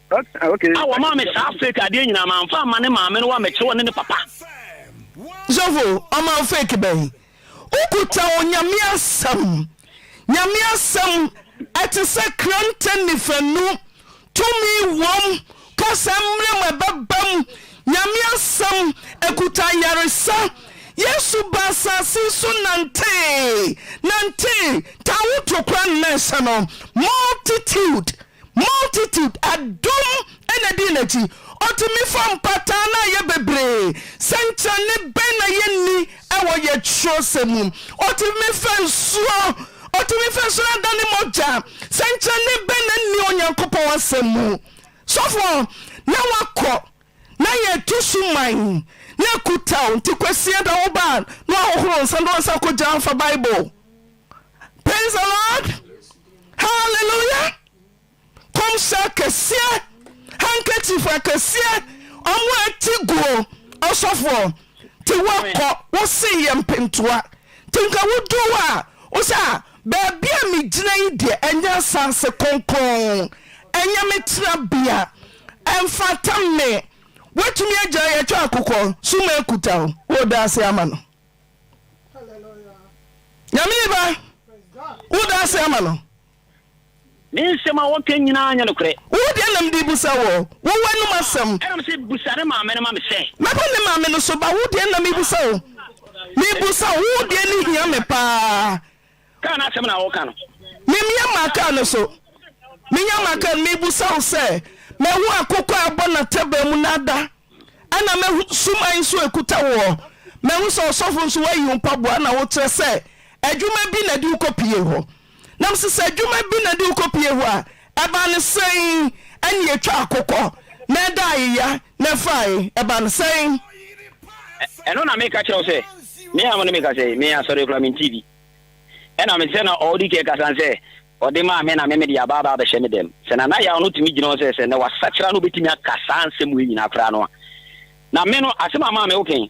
Okay. A wɔmaa me saa fake adeɛ nyinaa mamfa amma ne maame no wa mɛkyerɛ wɔ ne ne papa. Sɔfo, ɔma wo fake bɛn? Wokuta Onyame Asɛm. Nyame Asɛm, ɛte sɛ krante nifanu, tumi wom, kasa mmerɛ mu ɛbɛbam. Nyame Asɛm, ɛkuta ayaresa. Yesu baa asase so nantee, nantee, taa wo to kora ne nan hyɛ no, multitude. Multitude, adom na dii n'akyi. Otumi fa mpataa no a ɛyɛ bebree. Sɛnkyerɛnne bɛn na yenni wɔ yɛn kyerɛwsɛm mu? Otumi fa nsuo, otumi fa nsuo no adane mogya. Sɛnkyerɛnne bɛn na enni Onyankopɔn Asɛm mu? Sɔfoɔ, na wakɔ, na yɛreto suman, na akutao, nti Kwasia da wo ba a, na wahohoro nsa, na wansan akɔgya amfa Bible. praise the lord hallelujah kɔmhyɛ akɛseɛ handkerchief akɛseɛ ɔmo ati guo ɔsɔfoɔ te wakɔ wose yɛ mpentoa te nka wodu hɔ a wosɛ a baabi a megyina yi deɛ ɛnyɛ asanse kronkron ɛnyɛ me tena bia ɛmfata me woatumi agyina yɛtwa akokɔ so ma akuta o woda ase ama no Nyame ni ba, wo da ase ama no. Ne nsɛm a wɔka nyinaa nyɛ nokorɛ. Wo deɛ na mede rebisa wo, wo w'anom asɛm. Ɛna ɔse, Bisa ne maame no ma me sɛ. Mɛba ne maame no so ba, wo deɛ na mebisa wo, mebisa wo, wo deɛ ne hia me paa. Kaa no asɛm na woka no. Memia maa kaa no so. Menya maa kaa no. Mebusa wo sɛ, mahu akokɔ a abɔ n'ataban mu na ada, ɛna mahu suman nso a ɛkuta woɔ. Mahu sɛ ɔsɔfo nso woayi wo mpaboa na wokyerɛ sɛ adwuma bi na ɛde wo kɔpie hɔ. Na mese sɛ adwuma bi na ɛde wo kɔpie hɔ a, Ɛba no sɛn? Ɛnne ɛtwa akokɔ na ɛda ayeya na ɛfae. Ɛba no sɛn? Ɛ, ɛno na meka kyerɛ wo sɛ, Me a mo ne me kasa yi, me asɔre koraa mentii bi. Ɛna me sɛ na ɔɔdi kan kasa no sɛ, Ɔde maa me na me mede aba aba abɛhyɛ me dɛm. Sɛ na na yaw no tumi gyina hɔ sɛ, sɛ na wasakyera na obɛtumi aka saa nsɛm wei nyinaa koraa no a, na me no, asɛm a maa me wo kɛn.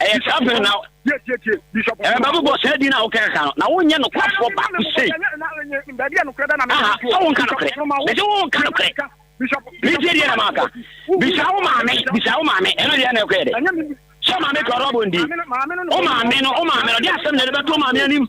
ɛyɛ saa bere na ɛbɛbɔ bɔ saa din a wokɛrɛ ka no na wonyɛ nokwafoɔ baako sei aha sɛ wonka nokorɛ mɛsɛ wonka nokorɛ metie deɛ na maaka bisa wo maame bisa wo maame ɛno deɛ na ɛkɔɛ dɛ sɛ maame kɔrɔ bɔ ndi wo maame no wo maame no de asɛm na ɛde bɛto maame anim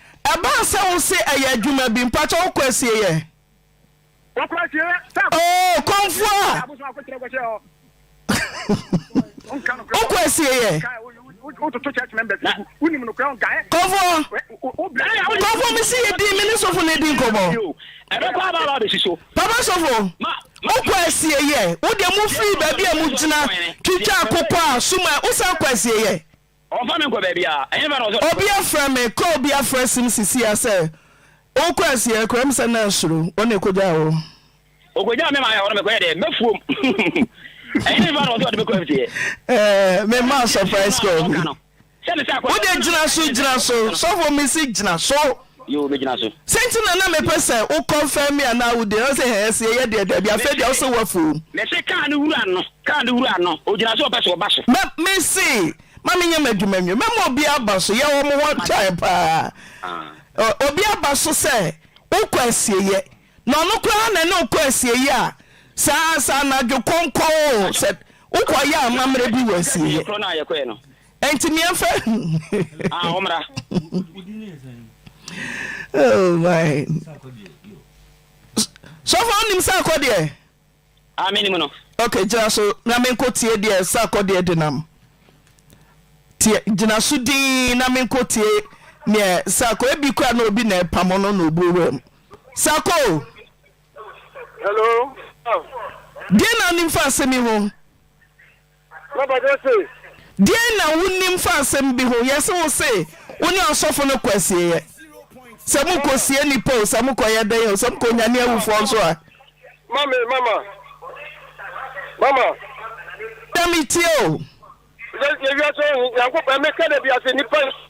Ɛbaa sɛ wo se ɛyɛ adwuma bi, mpakyɛ wokɔ asieɛ? Wɔkɔ asieɛ sɛ akɔ. Oo kɔmfoɔ a. Abosom akɔkyerɛ kɔhyɛ hɔ. Wonka nokorɛ. Wokɔ asieɛ. Wototo church members no gu. Wonim nokorɛ wonka ɛ. Kɔmfoɔ. Kɔmfoɔ me se yɛdi me ne sofo no adi nkɔmɔ. Ɛbɛkɔ aba aba abɛsi so. Papa sofo, wokɔ asieɛ. Wodeɛ mofiri baabi a mogyina twitwa akokɔ a sum a wosan kɔ asieɛ. Ɔmfa me nkɔ baabiara, ɛhefa na ɔsɛ ɔde me kɔ? Obi afrɛ me, kɔ obi afrɛ sim sisi a sɛ wokɔ asi akura mu sɛ na asuro, wɔn na ɛkɔgyaa wo. Ɔkɔgyaa me maa yɛ hɔ no mekɔyɛ dɛ, m'afuom, ɛhefa na ɔsɛ ɔde me kɔ afitiɛ? Ɛɛ, memmaa surprise call bi. Wode gyina so, gyina so, sɔfo mesi gyina so. Yoo me gyina so. Sɛ nti na na mepɛ sɛ wo confirm me anaa wo deny ɔse hɛɛ sɛ yɛyɛ deɛ daabi afei deɛ ɔse wafuom. Mese car no wura no car no wura no ogyina so ɔpɛ so ɔba so. Me mese ma me nyɛ madwuma nwie mɛma obi aba so yɛ wɔn ho time paa obi aba so sɛ wokɔ asieyɛ Na ɔno koraa na ɛne wo kɔ asieeɛ a, saa ara nso anadwo kɔnkɔn o, sɛ wokɔyɛ amammerɛ bi wɔ asieeɛ. Enti me mfa Oh my. Sɔfo wonim sɛ akɔ deɛ? Ah, me nim no. Okay, gyina so na menkɔ tie deɛ ɛsɛ akɔ deɛ denam. Tie, gyina so dinn na menkɔ tie neɛ ɛsɛ akɔ. Ebi kura na obi na ɛpamo no na obu wɛm. Sako! Hello. Deɛ na onim fa asɛm yi ho? Deɛn na wonim fa asɛm bi ho? Yɛse wo se wo ne ɔsɔfo no kɔ asieɛ. Sɛ mo kɔ sie nnipa o, sɛ mo kɔ yɛ dɛn o, sɛ mo kɔ nyane awufoɔ nso a. Mame mama mama. Na me tie o. Yɛ wiase ɔho nyankopɔn ɛmɛ kɛ da biase nnipa.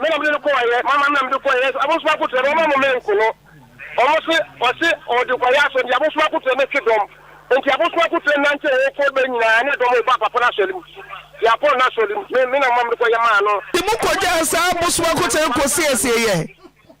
Me na mede no kɔɔ yɛ mama me na mede kɔɔ yɛ abosoma akotura mama mo mɛ nko no ɔmo se ɔse ɔde kɔ yɛ asɔ nti abosoma akotura ne twe dɔm nti abosoma akotura nante ɔwɔ kɔ bɛ nyinaa ne dɔm ɔba papa no asɔre mu yɛ apɔ no asɔre mu me na mama mede kɔ yɛ maa no. Te mo kɔgyaa saa abosoma akotura kɔ siesie yɛ.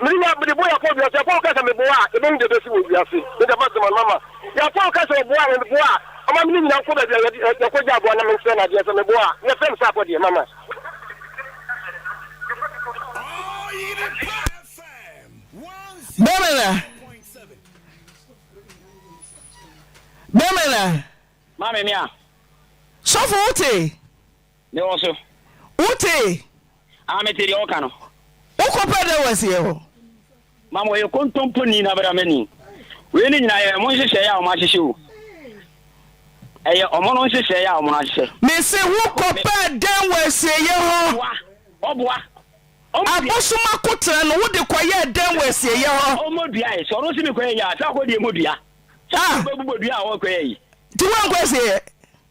Merenya bere bɔ Yakob wiase. Yakob ka sɛ, Meboa a, ɛbɛn de bɛsi wɔ wiase? Me deɛ, mate mano ama. Yakob ka sɛ ɔboa me, meboa a, ɔma me ne nyinaa kɔ baabi a yɛde, yɛkɔgye aboa na mensrɛ no adeɛ sɛ meboa a, yɛfrɛ me sɛ akɔ deɛ, mama. Bɛmena, Bɛmena. Maame, me a. Sɔfo, wote? Me wɔ so. Wo tee? Ah me te deɛ ɔka no. Wo kɔ pɛ dɛ wɔ asiɛ hɔ. Mama ɔyɛ kontompo ni na bra mani. Wei ne nyinaa yɛ ɔmo nhyehyɛɛ a ɔmo ahyehyɛ o. Ɛyɛ ɔmo no nhyehyɛɛ a ɔmo no ahyehyɛ. Me se wo kɔ pɛ dɛ wɔ asieyɛ hɔ. Ɔboa, ɔboa. Abosom akotra no wo de kɔ yɛ dɛ wɔ asieyɛ hɔ. Ɔmo dua e, sɛ ɔno se me kɔ yɛ yi a, sɛ akɔ deɛ mo dua. Sɛ akɔ bɛ bobɔ dua a ɔkɔ yɛ yi. Nti wo ankɔ asieyɛ.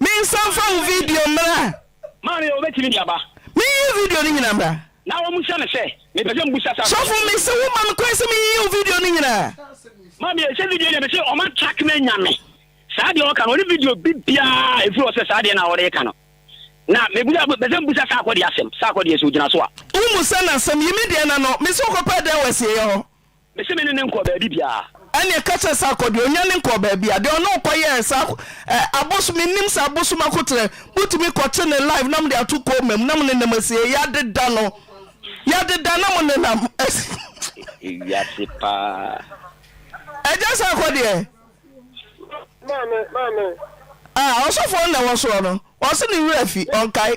Me nsa nfa wo video mmra. Maame o bɛtumi de aba. Me nyiyi video no nyina mmra. Na wɔn bisa no sɛ, me pɛ sɛ mbu sa sa. Sɔfo me se wo ma me kwan sɛ me yiyi wo video no nyina. Maame e sɛ video deɛ me se wɔn atrack me anya me. Saa deɛ ɔka no ɔne video bi biara a ɛfiri hɔ sɛ saa deɛ no a ɔreka no. Na me busa pɛ sɛ mbu sa sa akɔ deɛ asɛm. Sa akɔ deɛ sɛ ogyina so a. Wo mu sɛ na asɛm yi me deɛ na no me se wokɔ pɛ dɛn wɔ asieyɛ hɔ. Me se me ne no nkɔɔ baabi biaa. Ɛneɛ ka kyerɛ saa kɔ deɛ onyane nkɔɔ baabiaa, deɛ ɔne wo kɔ yɛɛ saa ɛ abosom me nim sɛ abosom akoterɛ mo tumi kɔ kye ne live na mode ato kooma mu na mo nenam asi yɛ yadeda no yadeda na mo nenam asi. Ewiase paa. Agya saa kɔ deɛ. Maame maame. Ah ɔsɔfoɔ no na ɛwɔ soɔ no ɔse ne werɛ afi ɔnkae.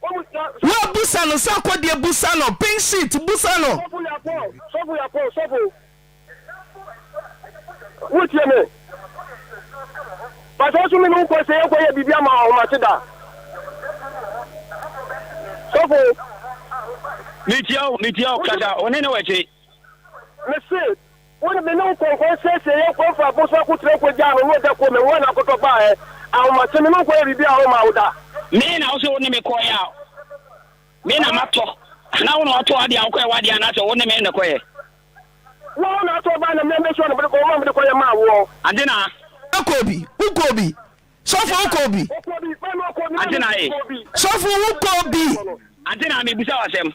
Woa busa no sɛ ɔkɔ deɛ busa no pink sheet busa no. Sɔfo ya pɔ sɔfo ya pɔ sɔfo wo tie me pasa so me ne wo kɔ sɛ yɛkɔ yɛ biribi ama ahomate da sɔfo. Metia o metia o kasa o ne ne wɔ akyire. Mese. Wode me ne wo kɔnkɔn siesiee yɛn kwan faa po so akotire kogyaa no na ogya kɔɔ me nwura na akɔtɔ baa ɛ. Ahomakye, me ne wo kɔyɛɛ biribiara a wommaa wo da. Me na wo se wo ne me kɔeɛ a, me na matɔ anaa wo na watɔ adeɛ a wokɔyɛ w'adeɛ anaasɛ wo ne me na ɛkɔyɛ? Wo a wo na atɔ baa na me a mesuaa na mede kɔɔ wo ma mede kɔyɛ maa woɔ. Adena. Wokɔɔ bi, wokɔɔ bi. Sɔfo, wokɔɔ bi. Wokɔɔ bi, me na ɔkɔɔ bi, me na mekɔɔ bi. Sɔfo, wokɔɔ bi. Adena, merebisa wo asɛm.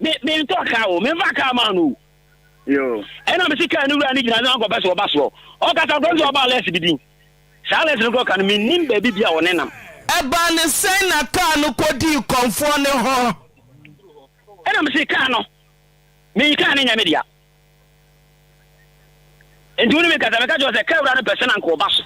Me me ntɔ car o, me nfa car ma no o. Yo. Ɛna me se car no wura no gyina na kɔpɛ sɛ ɔba soɔ. Ɔkasa kɔpɛ sɛ ɔba less bi din. Saa less no kɔ ka no me nim baabi bia ɔne nam. Ɛbaa ne sɛn na car no kɔ dii kɔmfoɔ no hɔ? Ɛna me se car no, me car no nyɛ me dea. Enti wo ne me kasa, meka kyerɛ wo sɛ, Ka wura no pɛ sɛ na anka ɔba so,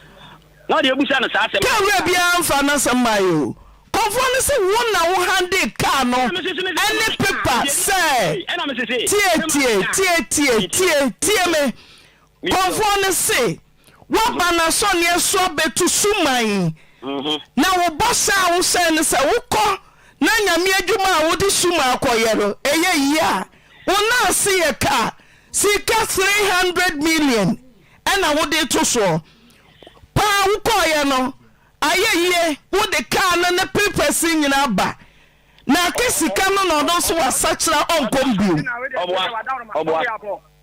na ɔde abisa no saa asɛm no. Ka wura biara mfaa n'asɛm mmaeɛ o. Kɔmfoɔ no se wo na wo handee kaa no ne pepa sɛ tie, tie, tie, tie, tie, tie me. Kɔmfoɔ no se. Woaba n'asɔneɛ so abɛtu suman, na wo bɔhyɛ a wohyɛɛ no sɛ wokɔ na Nyame adwuma a wode suman akɔyɛ no ɛyɛ yie a, wo nan se yɛ ka a, sika 300 million ɛna wode reto soɔ. Paa wokɔeɛ no, ayɛ yie, wode kaa no ne prpɛse nyinaa ba. Na aka sika no na ɔno nso wasakyera ɔnkɔ mu bio.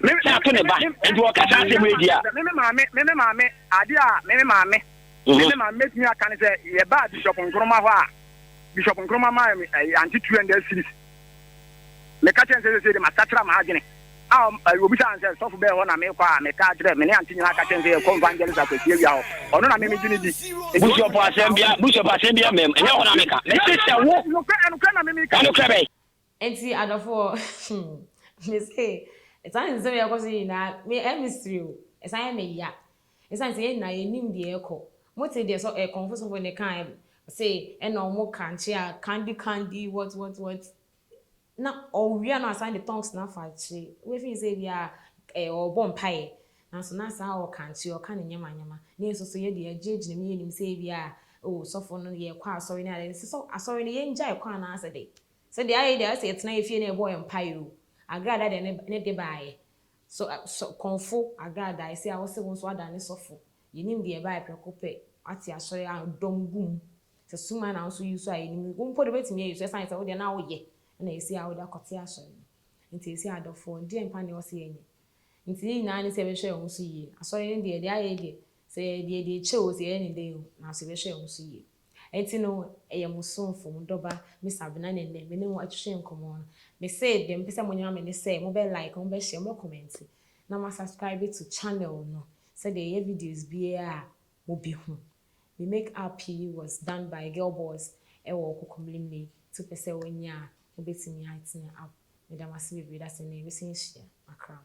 na ato ne ba, nti wɔka saa asɛm yi di a. Me me maame, me me maame, adeɛ a me me maame, me me maame mɛtumi aka ne sɛ yɛbaa Bishop Nkrumah hɔ a, Bishop Nkrumah maa me eh, ante 200 series. Meka kyerɛ nsɛ sɛ de masakyera m'adwene a eh, obisa nsɛ sɔfo bɛɛ hɔ na mekɔ a meka kyerɛ me ne ante nyinaa ka kyerɛ nsɛ yɛkɔ evangelist akwasi awia hɔ ɔno na me megye ne di bishop asɛm bia bishop asɛm bia mɛm ɛnyɛ hɔ na meka mese sɛ wo ɛnokorɛ na me meka ɛnokorɛ bɛn Enti adɔfoɔ hmm, me se, saa nsɛm a ɛrekɔ so yi nyinaa, me ɛyɛ me sere o, ɛsan yɛ me ya. Ɛsiane sɛ yɛn nyinaa yɛnim deɛ ɛrekɔ. Mote deɛ sɔ ɛɛ kɔmfo sɔfo no kaeɛ no, ɔse ɛna wɔn krankye a, candy candy, what what what, na ɔwia no asan de tongues no afa akyire. Wobɛfeel sɛ ebia ɛɛ ɔrebɔ mpaeɛ, nanso na saa ɔrekrankye, ɔreka ne nneɛma nneɛma. Na yɛn nso so yɛn deɛ yɛgyinagyina mu, yɛnnim sɛ ebia oh sɔfo no, yɛrekɔ asɔre ne adeɛ. Sɛ sɔ asɔre no yɛngyae kɔ anaasɛ dɛn? Sɛ deɛ ayɛ yi deɛ ayɛ sɛ yɛtena yɛn fie na yɛbɔ yɛn mpaeɛ oo. Agrada deɛ ne ne de baeɛ. So ɛ so kɔnfo agrada ɛsɛ a wose wo nso woada ne sɔfo. Yɛnim deɛ ɛbaeɛ prɛko pɛ. Wate asɔre a dɔm gu mu. Sɛ suman na wo nso use a yɛnim. Wo mpo deɛ wobɛtumi ayi so ɛsiane sɛ wo deɛ na woyɛ ɛna ɛsɛ a wode akɔte asɔre no. Nti ɛsɛ adɔfoɔ deɛ mpa deɛ ɔse yɛnyɛ. Nti ne nyinaa ne sɛ yɛbɛhwɛ yɛn ho so yie. Asɔre no deɛ deɛ ayɛ yi deɛ sɛ yɛyɛ deɛ deɛ ɛkyɛ oo sɛ yɛyɛ ne dɛn oo nanso yɛbɛhwɛ yɛn ho so yie. Enti no, ɛyɛ mo somfo, mo dɔba, Miss Abena na nnɛ me ne mo atwetwe nkɔmmɔ no. Mese deɛ mepɛ sɛ monyera me ne sɛ mobɛ like, mobɛ share, mobɛ comment na mo a subscribe to channel no sɛdeɛ yɛyɛ videos biara a mobɛhu. Me make up yi was done by Girl Boss ɛwɔ Kokomlemle nti wopɛ sɛ wonya a wobɛtumi atene up. Meda mo ase bebree da sɛ nnɛ yɛbɛsan ahyia. Makram.